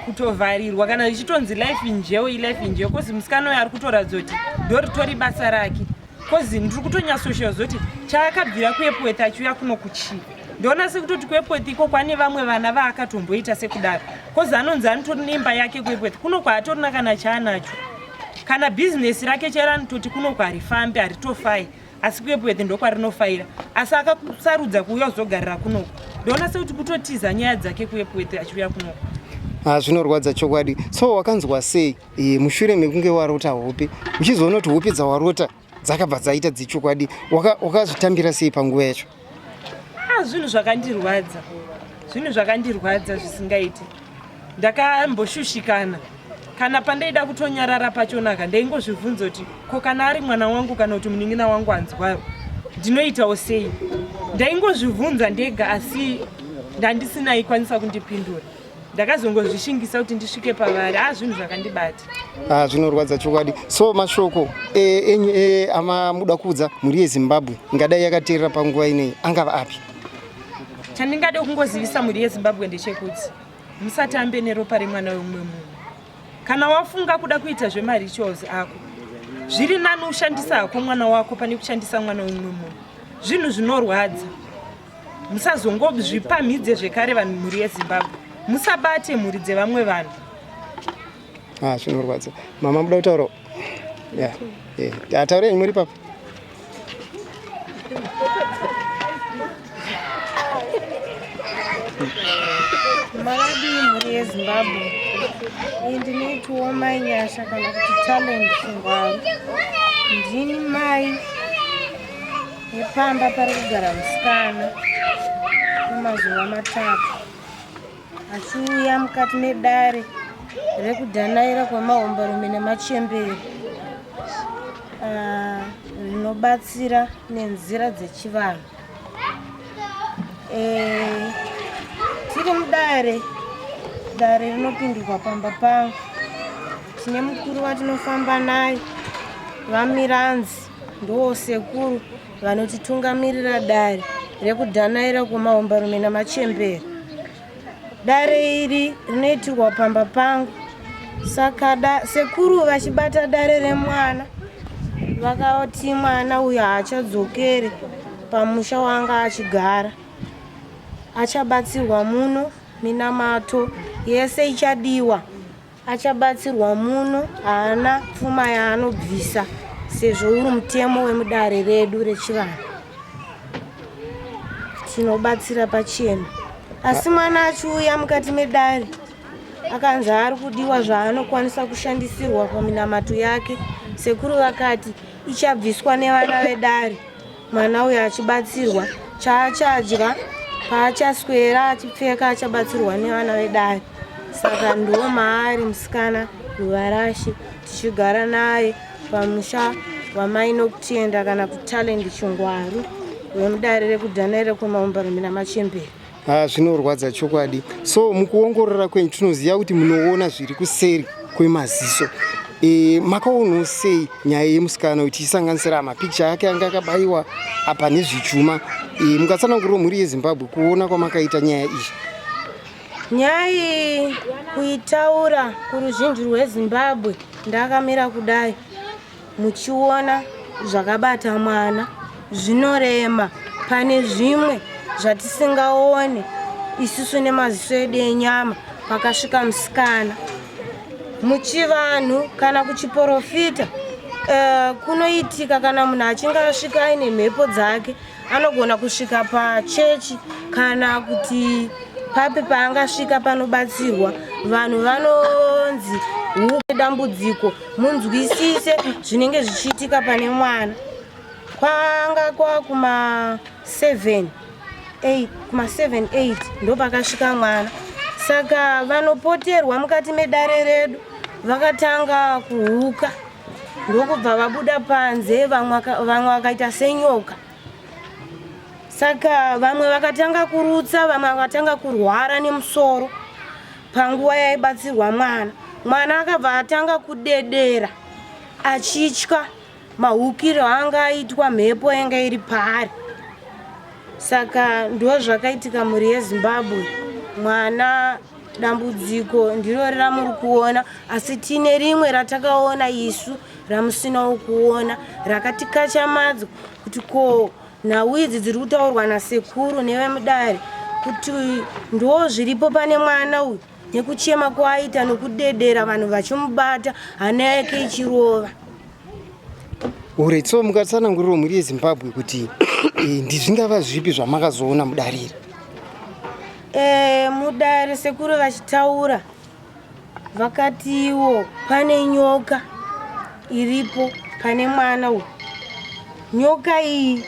kutovharirwa kana ichitonzi life injeo ilife injeo kozi musikana uyo ari kutoratidza kuti ndoritori basa rake kozi ndiri kutonyasoshiva zoti chaakabvira kuepweth achiuya kuno kuchii ndoona sekutoti kuepweth iko kwane vamwe vana vaakatomboita sekudaro kozi anonzi anotori neimba yake kuepweth kuno kwaatorina kana chaanacho kana bhizinesi rake chairo anototi kuno kwarifambi haritofai asi kuepwete ndokwarinofaira asi akasarudza kuuya kuzogarira kunoko ndoona sekuti kutotiza nyaya dzake kuepwete achiuya kunoko ah, zvinorwadza chokwadi so wakanzwa sei e, mushure mekunge warota hope uchizoona kuti hope dzawarota dzakabva dzaita dzechokwadi wakazvitambira waka sei panguva yacho ah, zvinhu zvakandirwadza zvinhu zvakandirwadza zvisingaiti ndakamboshushikana kana pandaida kutonyarara pachonaka ndaingozvibvunza kuti ko kana ari mwana wangu kana kuti munin'ina wangu anzwaro ndinoitawo sei ndaingozvibvunza ndega asi ndandisina ikwanisa kundipindura ndakazongozvishingisa kuti ndisvike pavari a ah, zvinhu zvakandibata a ah, zvinorwadza chokwadi so mashoko eh, enyu eh, amamuda kuudza mhuri yezimbabwe ingadai yakateerera panguva inei angava api chandingade kungozivisa mhuri yezimbabwe ndechekuti musatambe neropa remwana wemumwe munhu kana wafunga kuda kuita zvemarituals ako zviri nani ushandisa hako mwana wako pane kushandisa mwana wemumwe munhu zvinhu zvinorwadza musazongozvipamhidze zvekare vanhu mhuri yezimbabwe musabate mhuri dzevamwe vanhu ah, zvinorwadza mama muda kutaura ataure imwe ri papa makadi mhuri yezimbabwe iyi ndinoitiwo mai nyasha kana kuti talent ngwaro ndini mai Nepamba pari kugara musikana kwemazuva matatu achiuya mukati medare rekudhanaira kwemahomberume nemachembere ah, rinobatsira nenzira dzechivanhu eh, tiri mudare dare rinopindirwa pamba pangu tine mukuru vatinofamba naye vamiranzi Ndoo sekuru vanotitungamirira dare rekudhanaira kwemahombarume namachembere. Dare iri rinoitirwa pamba pangu. Saka da, sekuru vachibata dare remwana vakati mwana uyu haachadzokere pamusha wanga achigara achabatsirwa muno minamato yese ichadiwa achabatsirwa muno haana pfuma yaanobvisa sezvo uri mutemo wemudare redu rechivanhu tinobatsira pachena asi mwana achiuya mukati medare akanzi ari kudiwa zvaanokwanisa kushandisirwa paminamato yake sekuru vakati ichabviswa nevana vedare mwana uyo achibatsirwa chaachadya paachaswera achipfeka achabatsirwa nevana vedare saka ndiwo maari musikana ruvarashi tichigara naye pamusha wamai nokutenda kana kutalend chingwaru wemudare rekudhana rekwemaumbarumbi namachembere ha ah, zvinorwadza chokwadi so mukuongorora kwenyu tinoziva kuti munoona zviri kuseri kwemaziso e, makaonawo sei nyaya yemusikana uyu tichisanganisira mapikicha ake anga akabayiwa apa nezvichuma e, eh, mukatsananguriro mhuri yezimbabwe kuona kwamakaita nyaya iyi nyaya iyi kuitaura kuruzhinji rwezimbabwe ndakamira kudai muchiona zvakabata mwana zvinorema pane zvimwe zvatisingaone isusu nemaziso edu enyama pakasvika musikana muchivanhu kana kuchiporofita uh, kunoitika kana munhu achinge asvika aine mhepo dzake anogona kusvika pachechi kana kuti papi paangasvika panobatsirwa vanhu vanonzi hupe dambudziko munzwisise zvinenge zvichiitika pane mwana kwanga kwakuma 7 kuma 78 ndopakasvika mwana saka vanopoterwa mukati medare redu vakatanga kuhuka ndokubva vabuda panze vamwe vakaita senyoka saka vamwe vakatanga kurutsa vamwe vakatanga kurwara nemusoro panguva yaibatsirwa mwana mwana akabva atanga kudedera achitya mahukiro anga aitwa mhepo yanga iri paari saka ndo zvakaitika mhuri yezimbabwe mwana dambudziko ndirori ramuri kuona asi tine rimwe ratakaona isu ramusinawo kuona rakatikachamadzwa kuti ko nhau idzi dziri kutaurwa nasekuru nevemudare kuti ndo zviripo pane mwana uyu nekuchema kwaaita nokudedera vanhu vachimubata hana yake ichirova orit so mukatsananguriro mhuri yezimbabwe kuti eh, ndizvingava zvipi zvamakazoona mudarira E, mudare sekuru vachitaura vakatiwo pane nyoka iripo pane mwana uyu nyoka iyi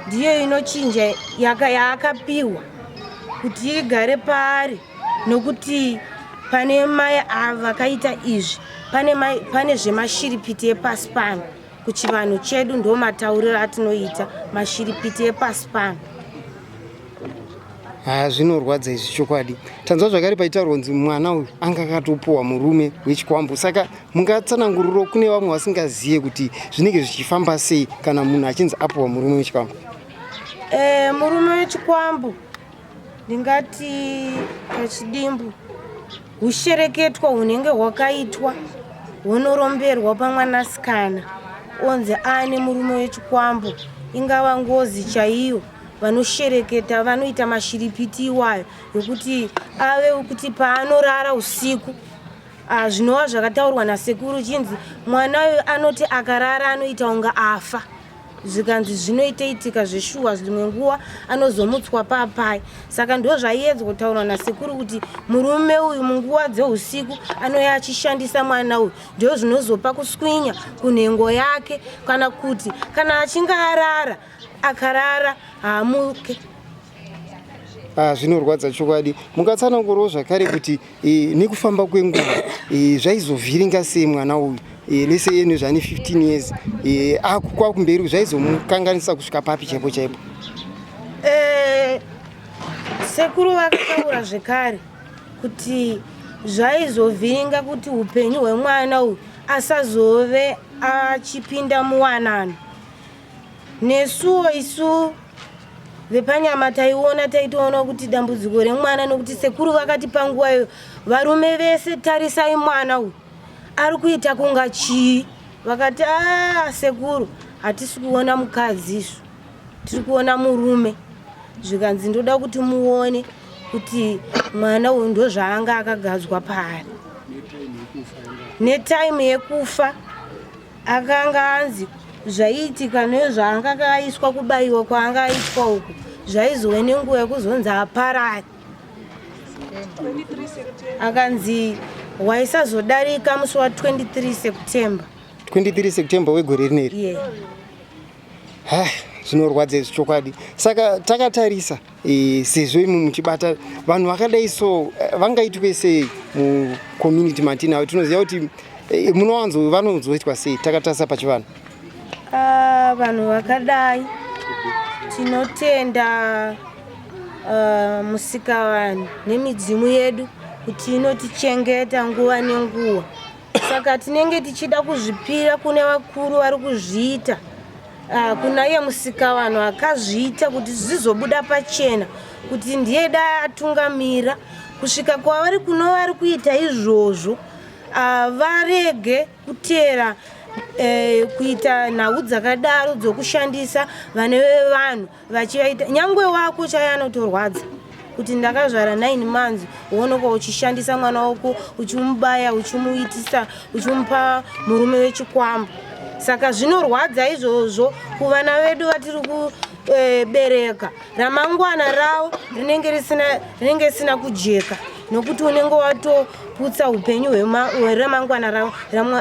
ndiyo inochinja yaakapiwa kuti igare paari nokuti pane mai ava vakaita izvi pane, mai, pane zvemashiripiti epasi pano kuchivanhu chedu ndo matauriro atinoita mashiripiti epasi pano haa zvinorwadza izvi chokwadi tanzwa zvakare paitaurwa kunzi mwana uyu anga akatopuwa murume wechikwambo saka mungatsananguriro kune vamwe vasingazive kuti zvinenge zvichifamba sei kana munhu achinzi apuwa murume wechikwambo e, murume wechikwambo ndingati pachidimbu hushereketwa hunenge hwakaitwa hunoromberwa pamwanasikana onzi aane murume wechikwambo ingava ngozi chaiyo vanoshereketa vanoita mashiripiti iwayo ekuti ave kuti paanorara usiku ah, zvinova zvakataurwa nasekuru chinzi mwana uyu anoti akarara anoita kunge afa zvikanzi zvinoiteitika zveshuwa zvimwe nguva anozomutswa papai saka ndo zvaiedzwa kutaurwa nasekuru kuti murume uyu munguva dzeusiku anouya achishandisa mwana uyu ndo zvinozopa kuswinya kunhengo yake kana kuti kana achinge arara akarara haamuke Ah, zvinorwadza chokwadi mukatsanangurawo zvakare kuti eh, nekufamba kwenguva eh, zvaizovhiringa sei mwana uyu eh, lese ene zvane 15 years eh, akukwa kumberi zvaizomukanganisa kusvika papi chaipo chaipo Eh, sekuru vakataura zvekare kuti zvaizovhiringa kuti upenyu hwemwana uyu asazove achipinda muwanano nesuwo isu vepanyama taiona taitoona kuti dambudziko remwana nokuti sekuru vakati panguva iyo varume vese tarisai mwana uyu ari kuita kunga chii vakati a sekuru hatisi kuona mukadzi isu tiri kuona murume zvikanzi ndoda kuti muone kuti mwana uyu ndozvaanga akagadzwa paari netaimu yekufa akanga anzi zvaiitika nezvaanga akaiswa kubayiwa kwaanga aitwa uku zvaizove nenguva yekuzonzi aparari akanzi waisazodarika musi wa 23 september 23 september wegore rineri yeah. ha zvinorwadza izvi chokwadi saka takatarisa e, sezvo imwe muchibata vanhu vakadai so eh, vangaitwe sei mucommunity matinavo tinoziva kuti e, munowanzo vanozoitwa sei takatarisa pachivanhu ah, vanhu vakadai tinotenda uh, musikavanhu nemidzimu yedu kuti inotichengeta nguva nenguva saka tinenge tichida kuzvipira kune vakuru vari kuzviita Ah, kuna iye musikavanhu akazviita kuti zvizobuda pachena kuti ndiye da atungamira kusvika kwavari kuno vari kuita izvozvo ah, varege kuteera eh, kuita nhau dzakadaro dzokushandisa vane vevanhu vachivaita nyangwe wako chaiye anotorwadza kuti ndakazvara nine months wonoka uchishandisa mwana wako uchimubaya uchimuitisa uchimupa murume wechikwambo saka zvinorwadza izvozvo kuvana vedu vatiri kubereka eh, ramangwana ravo rinenge risina kujeka nokuti unenge watoputsa upenyu hweramangwana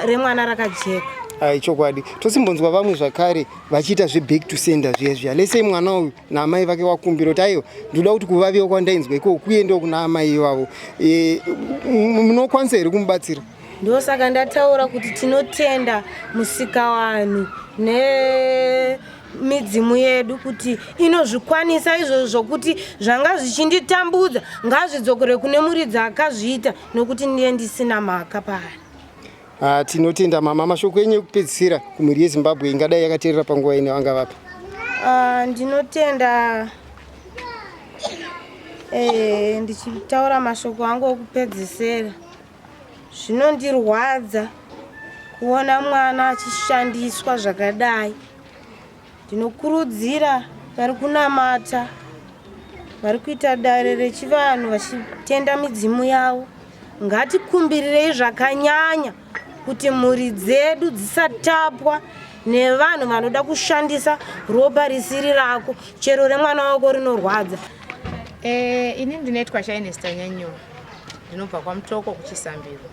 remwana rakajeka aichokwadi tosimbonzwa vamwe zvakare vachiita zveback to sender zviya zviya lese imwana uyu naamai vake wakumbira kuti aiwa ndinoda kuti kuvaviwa kwandainzwa ikoko kuendewo kuna amai ivavo e, munokwanisa here kumubatsira ndosaka ndataura kuti tinotenda musikawanhu ne midzimu yedu kuti inozvikwanisa izvozvo zvokuti zvanga zvichinditambudza ngazvidzokere kune muridzi akazviita nokuti ndiye ndisina mhaka paari Ah, tinotenda mama. Mashoko enyu ekupedzisira kumhuri yeZimbabwe ingadai yakateerera panguva ino angavapi? Ah, ndinotenda eh, ndichitaura mashoko angu okupedzisira zvinondirwadza kuona mwana achishandiswa zvakadai Ndinokurudzira vari kunamata vari kuita dare rechivanhu vachitenda midzimu yavo ngatikumbirireyi zvakanyanya kuti mhuri dzedu dzisatapwa nevanhu vanoda kushandisa ropa risiri rako chero remwana wako rinorwadza e, ini ndinoitwa chainestanyanyuwa ndinobva kwamutoko kuchisambiro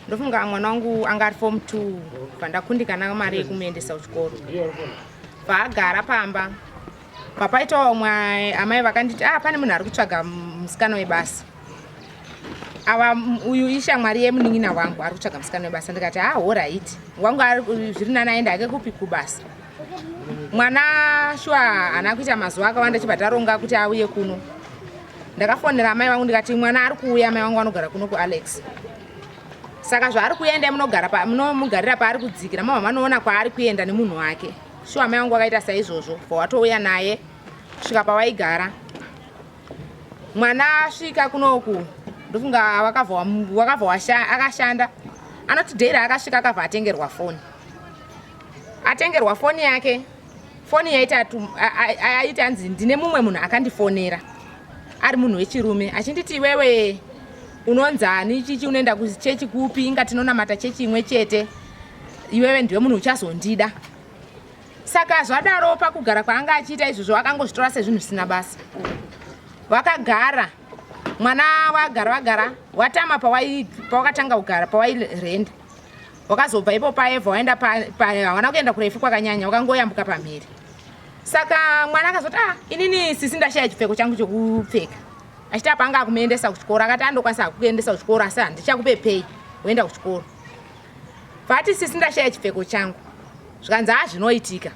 ndofunga mwana wangu anga ari form two pandakundikana mari yekumuendesa kuchikoro paagara pamba papaitawo mwe amai vakanditi ah pane munhu ari kutsvaga musikana webasa ava uyu ishamwari yemunin'ina wangu ari kutsvaga musikana webasa ndikati ah horaiti wangu zviri nani aenda ake kupi kubasa mwana shuwa haana kuita mazuva akawanda chibva taronga kuti auye kuno ndakafonera amai vangu ndikati mwana ari kuuya amai vangu vanogara kuno kualex saka zvaari kuuya endai munomugarira paari kudzikira mama vanoona kwaari kuenda nemunhu wake shuwa amai vangu vakaita saizvozvo bva watouya naye kusvika pawaigara mwana asvika kunoku ndofunga wakabva akashanda anoti dheira akasvika akabva atengerwa foni atengerwa foni yake foni yaiti anzi ndine mumwe munhu akandifonera ari munhu wechirume achinditi iwewe unonzani chichi unoenda kuchechi kupi inga tinonamata chechi imwe chete iwewe ndiwe munhu uchazondida saka zvadaro pakugara kwaanga achiita izvozvo akangozvitora sezvinhu zvisina basa vakagara mwana wagara vagara watama pawakatanga kugara pawairenda wakazobva ipo paevha waenda hawana kuenda kurefu kwakanyanya wakangoyambuka pamhiri saka mwana akazoti ah inini sisi ndashaya chipfeko changu chekupfeka achiti apa anga akumuendesa kuchikoro akati andokwanisa akukuendesa kuchikoro asi handichakupe pei woenda kuchikoro vati sisi ndashaya chipfeko changu zvikanzi hazvinoitika ah,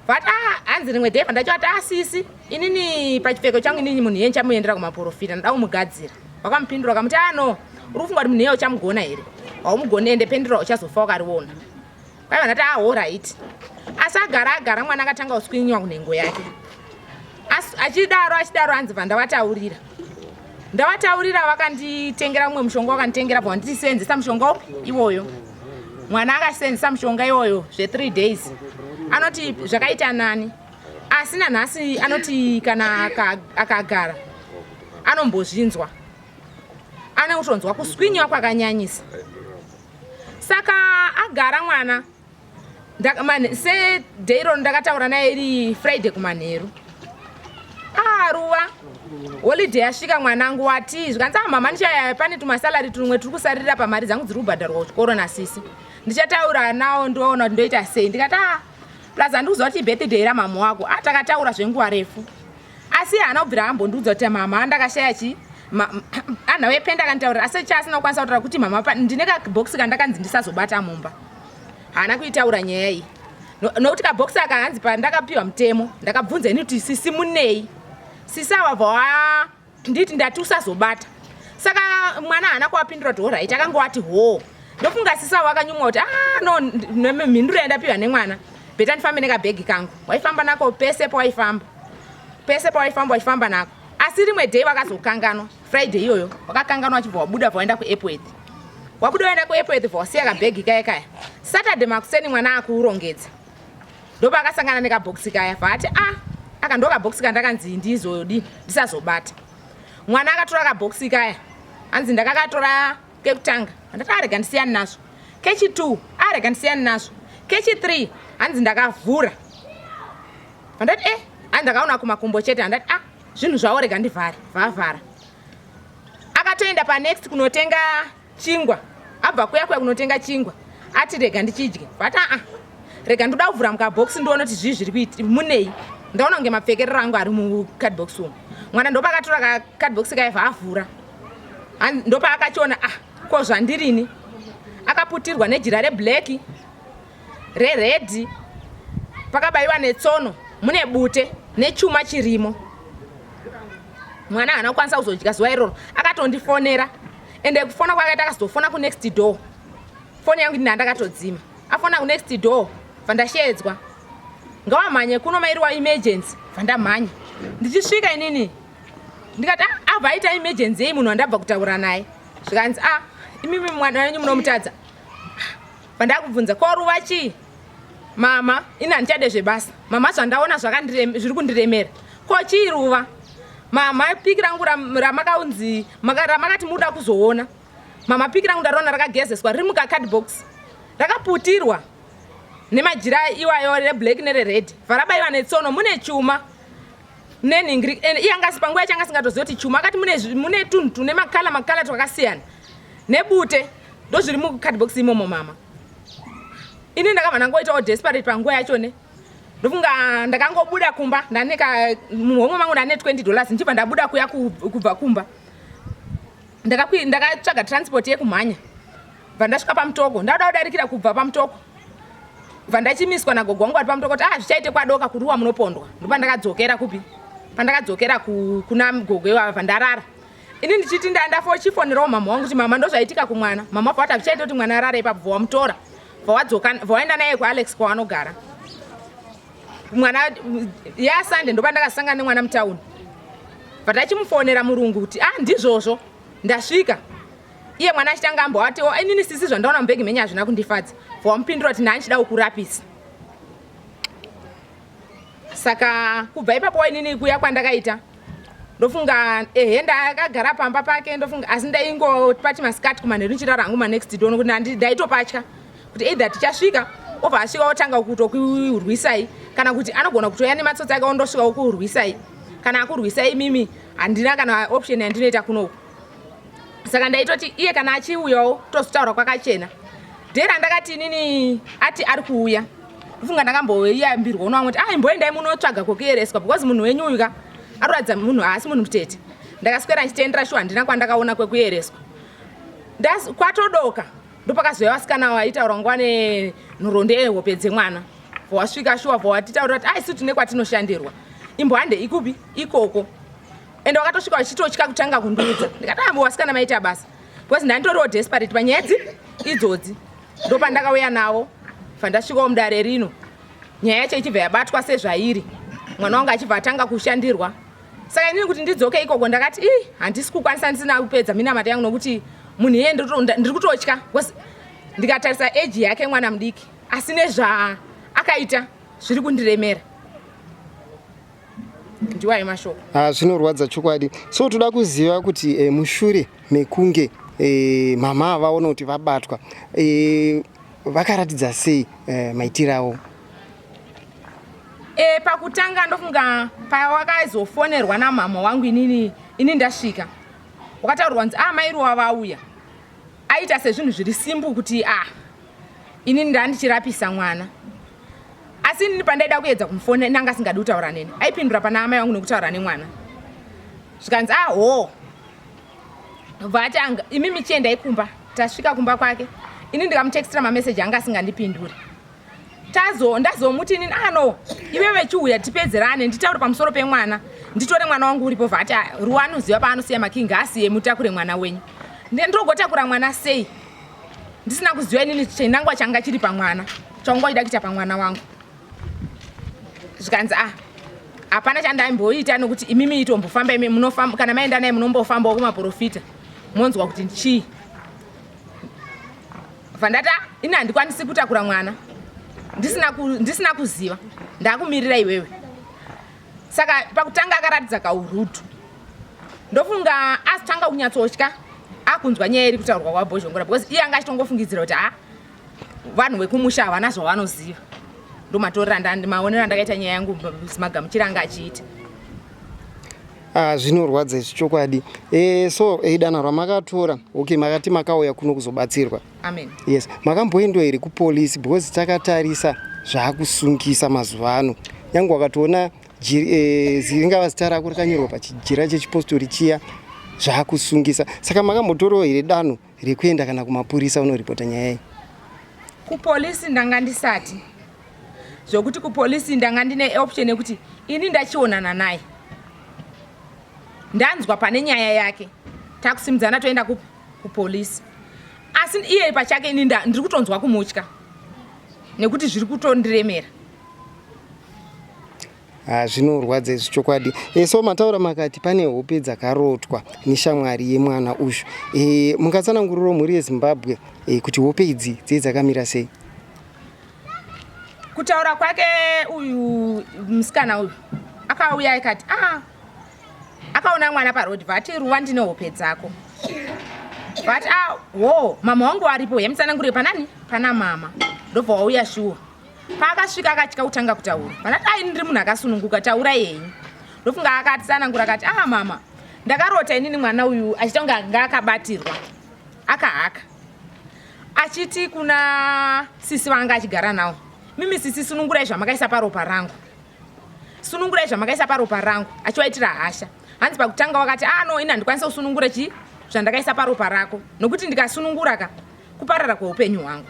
but ah, hanzi rimwe day pandachavati asisi ah, inini pachipfeko changu inini munhu yeni chamuendera kumaporofita ndoda kumugadzira wakamupindura ukamuti ano ah, uri kufunga kuti munhu iye uchamugona here haumugoni ende pendura uchazofa wakariona kwai vanati ahoraiti asi agara agara mwana akatanga kuswinyiwa kunhengo yake achidaro achidaro hanzi vandavataurira ndavataurira vakanditengera mumwe mushonga wakanditengera bva wanditi seenzesa mushonga upi iwoyo mwana akaseenzesa mushonga iwoyo zve3 days anoti zvakaita nani asi nanhasi anoti kana akagara anombozvinzwa anotonzwa kuswinyiwa kwakanyanyisa saka agara mwana sedairoro ndakataura naye iri friday kumanheru ah ruva holiday yasvika mwanangu wati zvikanzi ah mama ndichaya pane tumasalari tumwe turi kusarira pamari dzangu dziri kubhadharwa kuchikoro nasisi ndichataura nawo ndoona kuti ndoita sei ndikati ah plus handikuziva kuti ibirthday ramhamha wako ah takataura zvenguva refu asi haana kubvira ambondiudza kuti mama andakashaya chii anha wependa akanditaurira asi cha asina kukwanisa kutaura kuti mama ndine kabhokisi kandakanzi ndisazobata mumba haana kuitaura nyaya iyi nokuti kabhokisi aka hanzi pandakapiwa mutemo ndakabvunza ini kuti sisi munei sisi awabva wa nditi ndati usazobata saka mwana haana kuwapindura kuti horit akangowati hoo ndofunga sisi avo akanyumwa kuti a ah, no mhinduro yandapiwa nemwana beta ndifambe nekabhegi kangu waifamba nako pese pawaifamba pese pawaifamba wachifamba nako asi rimwe day wakazokanganwa friday iyoyo wakakanganwa wachibva wabuda bva waenda kuepworth wabuda waenda kuepworth bva wasiya kabhegi kaya kaya saturday makuseni mwana akurongedza ndopa akasangana nekabhokisi kaya vaati a ah, aka ndo kabhokisi kandakanzi ndizodii ndisazobata mwana akatora kabhokisi kaya hanzi ndakakatora kekutanga handati arega ndisiyani nazvo kechi2 arega ndisiyani nazvo kechi3 hanzi ndakavhura handati e hanzi ndakaona kumakumbo chete handati a ah, zvinhu zvavo rega ndivhare vavhara akatoenda panext kunotenga chingwa abva kuya kuya kunotenga chingwa ati rega ndichidye but aa ah, ah, rega ndoda kuvhura mukabhokisi ndiona kuti zvii zviri kuiti munei ndaona kunge mapfekerero angu ari mucardbox umu mwana ndopakatora kacardbox kaiva avhura ndopaakachiona ah ko zvandirini akaputirwa nejira reblack reredhi pakabayiwa netsono mune bute nechuma chirimo mwana haana kukwanisa kuzodya zuva iroro akatondifonera ende kufona kwakaita akazofona kunext door foni yangu ndina ndakatodzima afona kunext door vandashedzwa ngawamhanye kuno mairiwa emergency vandamhanya ndichisvika inini ndikati ah, ah vaita emergency yei munhu wandabva kutaura naye zvikanzi a ah, imimi mwana wenyu munomutadza vandakubvunza ko ruva chii mama ini handichade zvebasa mama zvandaona zviri kundiremera ko chii ruva mama piki rangu ramakaunzi ramakati muda kuzoona mama piki rangu ndariona rakagezeswa riri mukacardbox rakaputirwa nemajira iwayo reblack nerered varabaiwa netsono mune chuma nenhingiri and iye anga asipanguva yacho anga asingatoziva kuti chuma akati mune, mune tunhu tune makala makala twakasiyana nebute ndozviri mucardbox imomo mama ini ndakabva ndangoitawo desperate panguva yacho ne ndofunga ndakangobuda kumba ndane muhomwe mangu ndane 20 dollars ndichibva ndabuda kuya kubva kumba ndakatsvaga transport yekumhanya bva ndasvika pamutoko ndauda kudarikira kubva pamutoko bva ndachimiswa nagogo wangu vari pamutoko kuti ah zvichaite kwadoka kuruwa munopondwa ndopandakadzokera kupi pandakadzokera kuna gogo ivava pandarara ini ndichiti ndandafa uchifonerawo mama wangu kuti mama ndozvaitika kumwana mama wabva wati hazvichaita kuti mwana arare ipapo vawamutora vawaenda naye kualex kwawanogara mwana yasunday ndopa ndakasangana nemwana mutauni but achimufonera murungu kuti ah ndizvozvo ndasvika iye mwana achitanga amboatiwo oh, inini sisi zvandaona mubhegi menyu hazvina kundifadza for wamupindura kuti nani chida kukurapisa saka kubva ipapo wainini kuya kwandakaita ndofunga ehe ndakagara pamba pake ndofunga asi ndaingopati masikati kumanheru ndichirara hangu manext dono kuti nandi ndaitopatya kuti either tichasvika obva asvika otanga kutokurwisai kana kuti anogona kutoya nematsotsi ake ondosvika okurwisai kana akurwisai mimi handina kana option yandinoita kunoku saka ndaitoti iye kana achiuyawo tozotaura kwakachena dee randakati inini ati ari kuuya ufunga ndakamboyambirwa uno vamwe kuti ai mboendai munotsvaga kwokuyereswa because munhu wenyu uyu ka aroratidza munhu haasi munhu mutete ndakaswera ndichitendera shuwa handina kwandakaona kwekuyereswa kwatodoka ndopakazouya vasikana vaitaura nguva nenhoroondo yehope dzemwana vowasvika shuwa vowatitaurira kuti aisu tine kwatinoshandirwa imbo hande ikupi ikoko ende wakatosvika vachitotya kutanga kundiudza ndikati ambo ah, wasikana maita basa because ndanditoriwo desperate panyedzi idzodzi ndopandakauya navo fandasvikawo mudare rino nyaya yacho ichibva yabatwa sezvairi mwana wangu achibva atanga kushandirwa saka inini kuti ndidzoke ikoko ndakati i handisi kukwanisa ndisina kupedza minamata yangu nokuti munhu iye ndiri kutotya bcause ndikatarisa eji yake mwana mudiki asi nezvaakaita zviri kundiremera ndiwayo mashoko ah, zvinorwadza chokwadi so toda kuziva kuti eh, mushure mekunge eh, mama vaona kuti vabatwa eh, vakaratidza sei eh, maitiro avo e, pakutanga ndofunga pawakazofonerwa namama wangu inini ini ndasvika wakataurwa kunzi ah mairi wavauya aita sezvinhu zviri simbu kuti ah ini ndandichirapisa mwana asi inini pandaida kuedza kumufona nanga asingadi kutaura neni aipindura pana amai vangu nekutaura nemwana zvikanzi aho ah, vatanga imi michiendai kumba tasvika kumba kwake ini ndikamutextira mameseji anga asingandipinduri tazo ndazomuti inini ano ah, ive vechiuya tipedzerane nditaure pamusoro pemwana nditore mwana wangu uripo vati ah, ruwa anoziva paanosiya makingi asiye mutakure mwana wenyu ndogotakura mwana sei ndisina kuziva inini chinangwa changa chiri pamwana chaunga uchida kuita pamwana wangu zvikanzi ah hapana chandaimboita nokuti imimi itombofamba imi munofamba kana maenda naye munombofambawo kumaprofita monzwa kuti chii vandati ah ini handikwanisi kutakura mwana ndisina kuziva ndakumirira iwewe saka pakutanga akaratidza kaurutu ndofunga azitanga kunyatsotya akunzwa nyaya iri kutaurwa kwabhozhongora because iye anga achitongofungidzira kuti ha vanhu vekumusha havana zvavanoziva ndomatorerandimaonero andakaita nyaya yangu magamuchira anga achiita Ah, zvinorwadza izvi chokwadi eh, so eh, danho ramakatora okay makati makauya kuno kuzobatsirwa Amen. Yes, makamboendwa here kupolice because takatarisa zvaakusungisa mazuva ano. Nyange wakatoona eh, ringava zita rako rakanyorwa pachijira chechipostori chiya zvaakusungisa. Saka makambotorawo here danho rekuenda kana kumapurisa unoripota nyaya iyi? Kupolice ndanga ndisati zvokuti kupolice ndanga ndine option yekuti ini ndachionana naye ndanzwa pane nyaya yake takusimudzana toenda kupi kupolice asi iye pachake ini ndiri kutonzwa kumutya nekuti zviri kutondiremera ah, zvinorwadza izvi chokwadi e, so mataura makati pane hope dzakarotwa neshamwari yemwana uyu e, eh, mungatsananguriro mhuri yezimbabwe e, kuti hope idzi dzei dzakamira sei kutaura kwake uyu musikana uyu akauya ikati ah, akaona mwana paroad vati ruva ndine hope dzako vati a ah, wo mama wangu aripo yamutsanangurire panani pana mama ndobva wauya shuwa paakasvika akatya kutanga kutaura vanati ai ndiri munhu akasununguka taura yenyu ndofunga akatsanangura akati a ah, mama ndakarota inini mwana uyu achita kunge anga akabatirwa akahaka achiti kuna sisi vanga achigara nawo mimi sisi sunungurai zvamakaisa paropa rangu sunungurai zvamakaisa paropa rangu achivaitira hasha hanzi pakutanga wakati ah no ini handikwanisa kusunungura chii zvandakaisa paropa rako nokuti ndikasunungura ka kuparara kweupenyu hwangu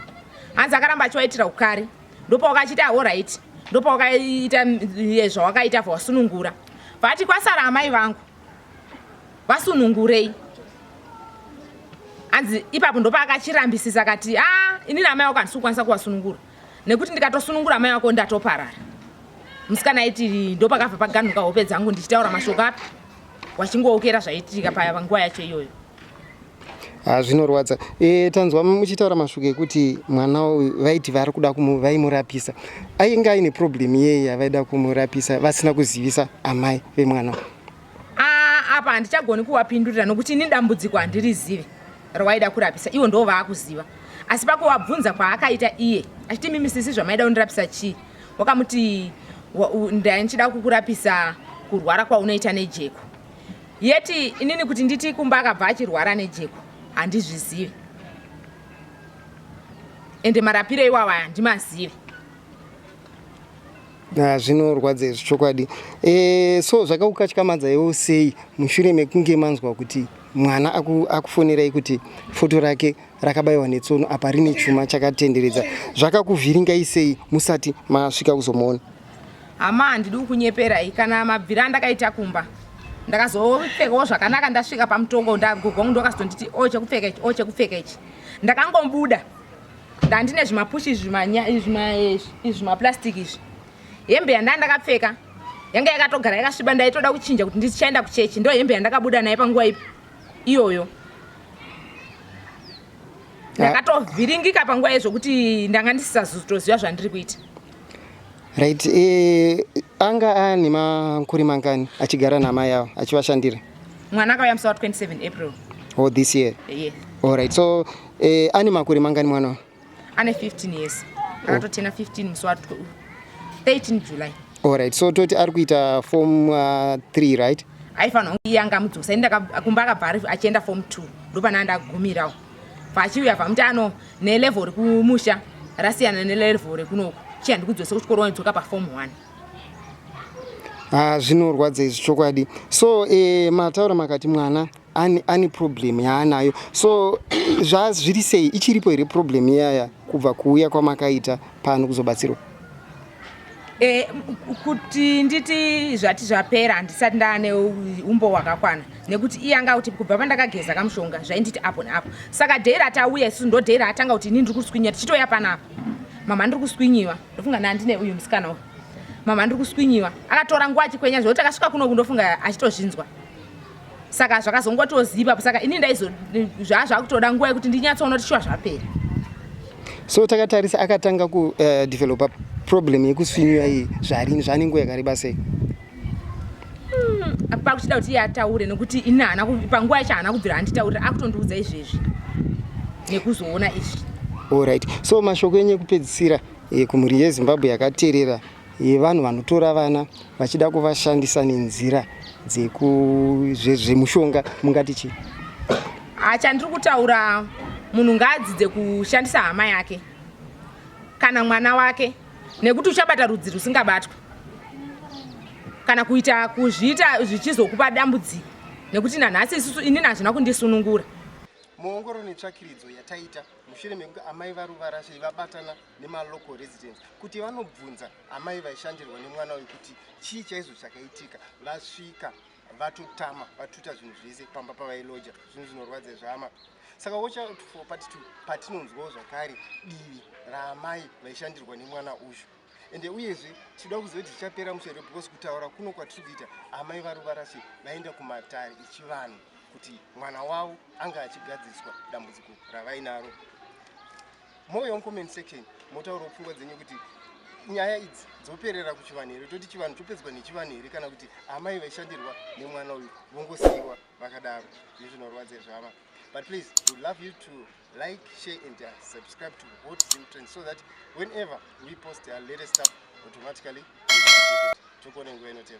hanzi akaramba achivaitira ukari ndopawakachiti ahoraiti ah, ndopawakaita eh, zvawakaita vawasunungura vati kwasara amai vangu vasunungurei hanzi ipapo ndopaakachirambisisa kati a ah, inini amai wako handisi kukwanisa kuvasunungura nekuti ndikatosunungura mai wako ndatoparara musikana aiti ndopakabva paganhuka hope dzangu ndichitaura mashoko api wachingookera zvaitika paya panguva yacho iyoyo ah, zvinorwadza e, tanzwa muchitaura mashoko ekuti mwana uyu vaiti vari kuda vaimurapisa ainge aine problem iyeye yavaida kumurapisa vasina kuzivisa amai vemwana uyu apa handichagoni kuwapindurira nokuti ini dambudziko handirizivi rawaida kurapisa ivo ndoo vaakuziva asi pakuwabvunza kwaakaita iye achiti mimi sisi zvamaida kundirapisa chii wakamuti ndaichida kukurapisa kurwara kwaunoita nejeko yeti inini kuti nditi kumba akabva achirwara nejeko handizvizivi ende marapiro iwawa handimazivi Ah, zvinorwadza izvi chokwadi e, so zvakakukatyamadza iwo sei mushure mekunge manzwa kuti mwana akufonerai aku kuti foto rake rakabayiwa netsono apa rine chuma chakatenderedza zvakakuvhiringai sei musati masvika kuzomuona hama handidi kukunyeperai kana mabvira andakaita kumba ndakazopfekawo zvakanaka ndasvika pamutongo ndagogongu ndokazotonditi o chekupfeka ichi o chekupfeka ichi ndakangobuda ndandine zvimapushi izvi zvimaplastic izvi hembe yandaa ndakapfeka yanga yakatogara yakasviba ndaitoda kuchinja kuti ndichaenda kuchechi ndo hembe yandakabuda naye panguva ipi iyoyo ndakatovhiringika panguva yezvokuti ndanga ndisisazotoziva zvandiri kuita Right, eh, anga aane makore mangani achigara naamai avo achivashandira? Mwana akauya musi wa 27 April. Oh, this year? Yes. All right, so eh, ane makore mangani mwana uyu? Ane 15 years. Oh. Akatotena 15 musi wa 13 July. All right, so toti ari kuita form 3 uh, right? Aifanira kunge iye angamudzosa, ini kumba akabva achienda form 2 ndopana ndagumirawo. pachiuya pamuti ano nelevel rekumusha rasiyana nelevel rekunoku chiya ndikudzose kuchikoro wanidzoka pafom one ah, zvinorwadza izvi chokwadi so eh, mataura makati mwana ane, ane problem yaanayo so zvazviri sei ichiripo here problem iyaya kubva kuuya kwamakaita pano kuzobatsirwa Eh, kuti nditi zvati zvapera handisati ndaane umbo hwakakwana nekuti iye anga kuti kubva pandakageza kamushonga zvainditi apo neapo saka dhei ratauya isu ndo dhei raatanga kuti ini ndiri kuswinyiwa tichitoya panapa mama ndiri kuswinyiwa ndofunga nandine uyu musikana uyu mama ndiri kuswinyiwa akatora nguva achikwenya zvekuti akasvika kuno kundofunga achitozvinzwa saka zvakazongotoziva saka ini ndaizo zvaa zvakutoda nguva yekuti ndinyatsoona kuti shuwa zvapera so takatarisa akatanga kudevelopa eh, uh, problem yekuswinyuya iyi zvarini zvane nguva yakareba sei hmm, pakuchida kuti iye ataure nekuti ini hana panguva yacho haana kubvira anditaurira akutondiudza izvezvi nekuzoona izvi allright so mashoko enyu ekupedzisira eh, kumhuri yezimbabwe yakateerera yevanhu vanotora vana vachida kuvashandisa nenzira dzekuzvemushonga mungati chii ah, chandiri kutaura munhu ngaadzidze kushandisa hama yake kana mwana wake nekuti uchabata rudzi rusingabatwe kana kuita kuzviita zvichizokupa dambudziko nekuti nanhasi isusu inini hazvina kundisunungura muongoro netsvakiridzo yataita mushure mekunge amai varuvarashe vabatana nemalocal residents kuti vanobvunza amai vaishandirwa nemwana uyu kuti chii chaizvo chakaitika vasvika vatotama vatuta zvinhu zvese pamba pavailoja zvinhu zvinorwadza zvama saka wochapatitu patinonzwawo zvakare divi raamai vaishandirwa nemwana uyu ende uyezve tinoda kuziva kuti zvichapera mushere because kutaura kuno kwatiri kuita amai varuvarasi vaenda kumatare echivanhu kuti mwana wavo anga achigadziswa dambudziko ravainaro mouya mucomment section motaurawo pfungwa dzenyu kuti nyaya idzi dzoperera kuchivanhu here toti chivanhu chopedzwa nechivanhu here kana kuti amai vaishandirwa nemwana uyu vongosiyiwa vakadaro izvi zvinorwadza zvava but please would love you to like share and uh, subscribe to hot zim trend so that whenever we post our latest stuff automatically tokuone nguva inotera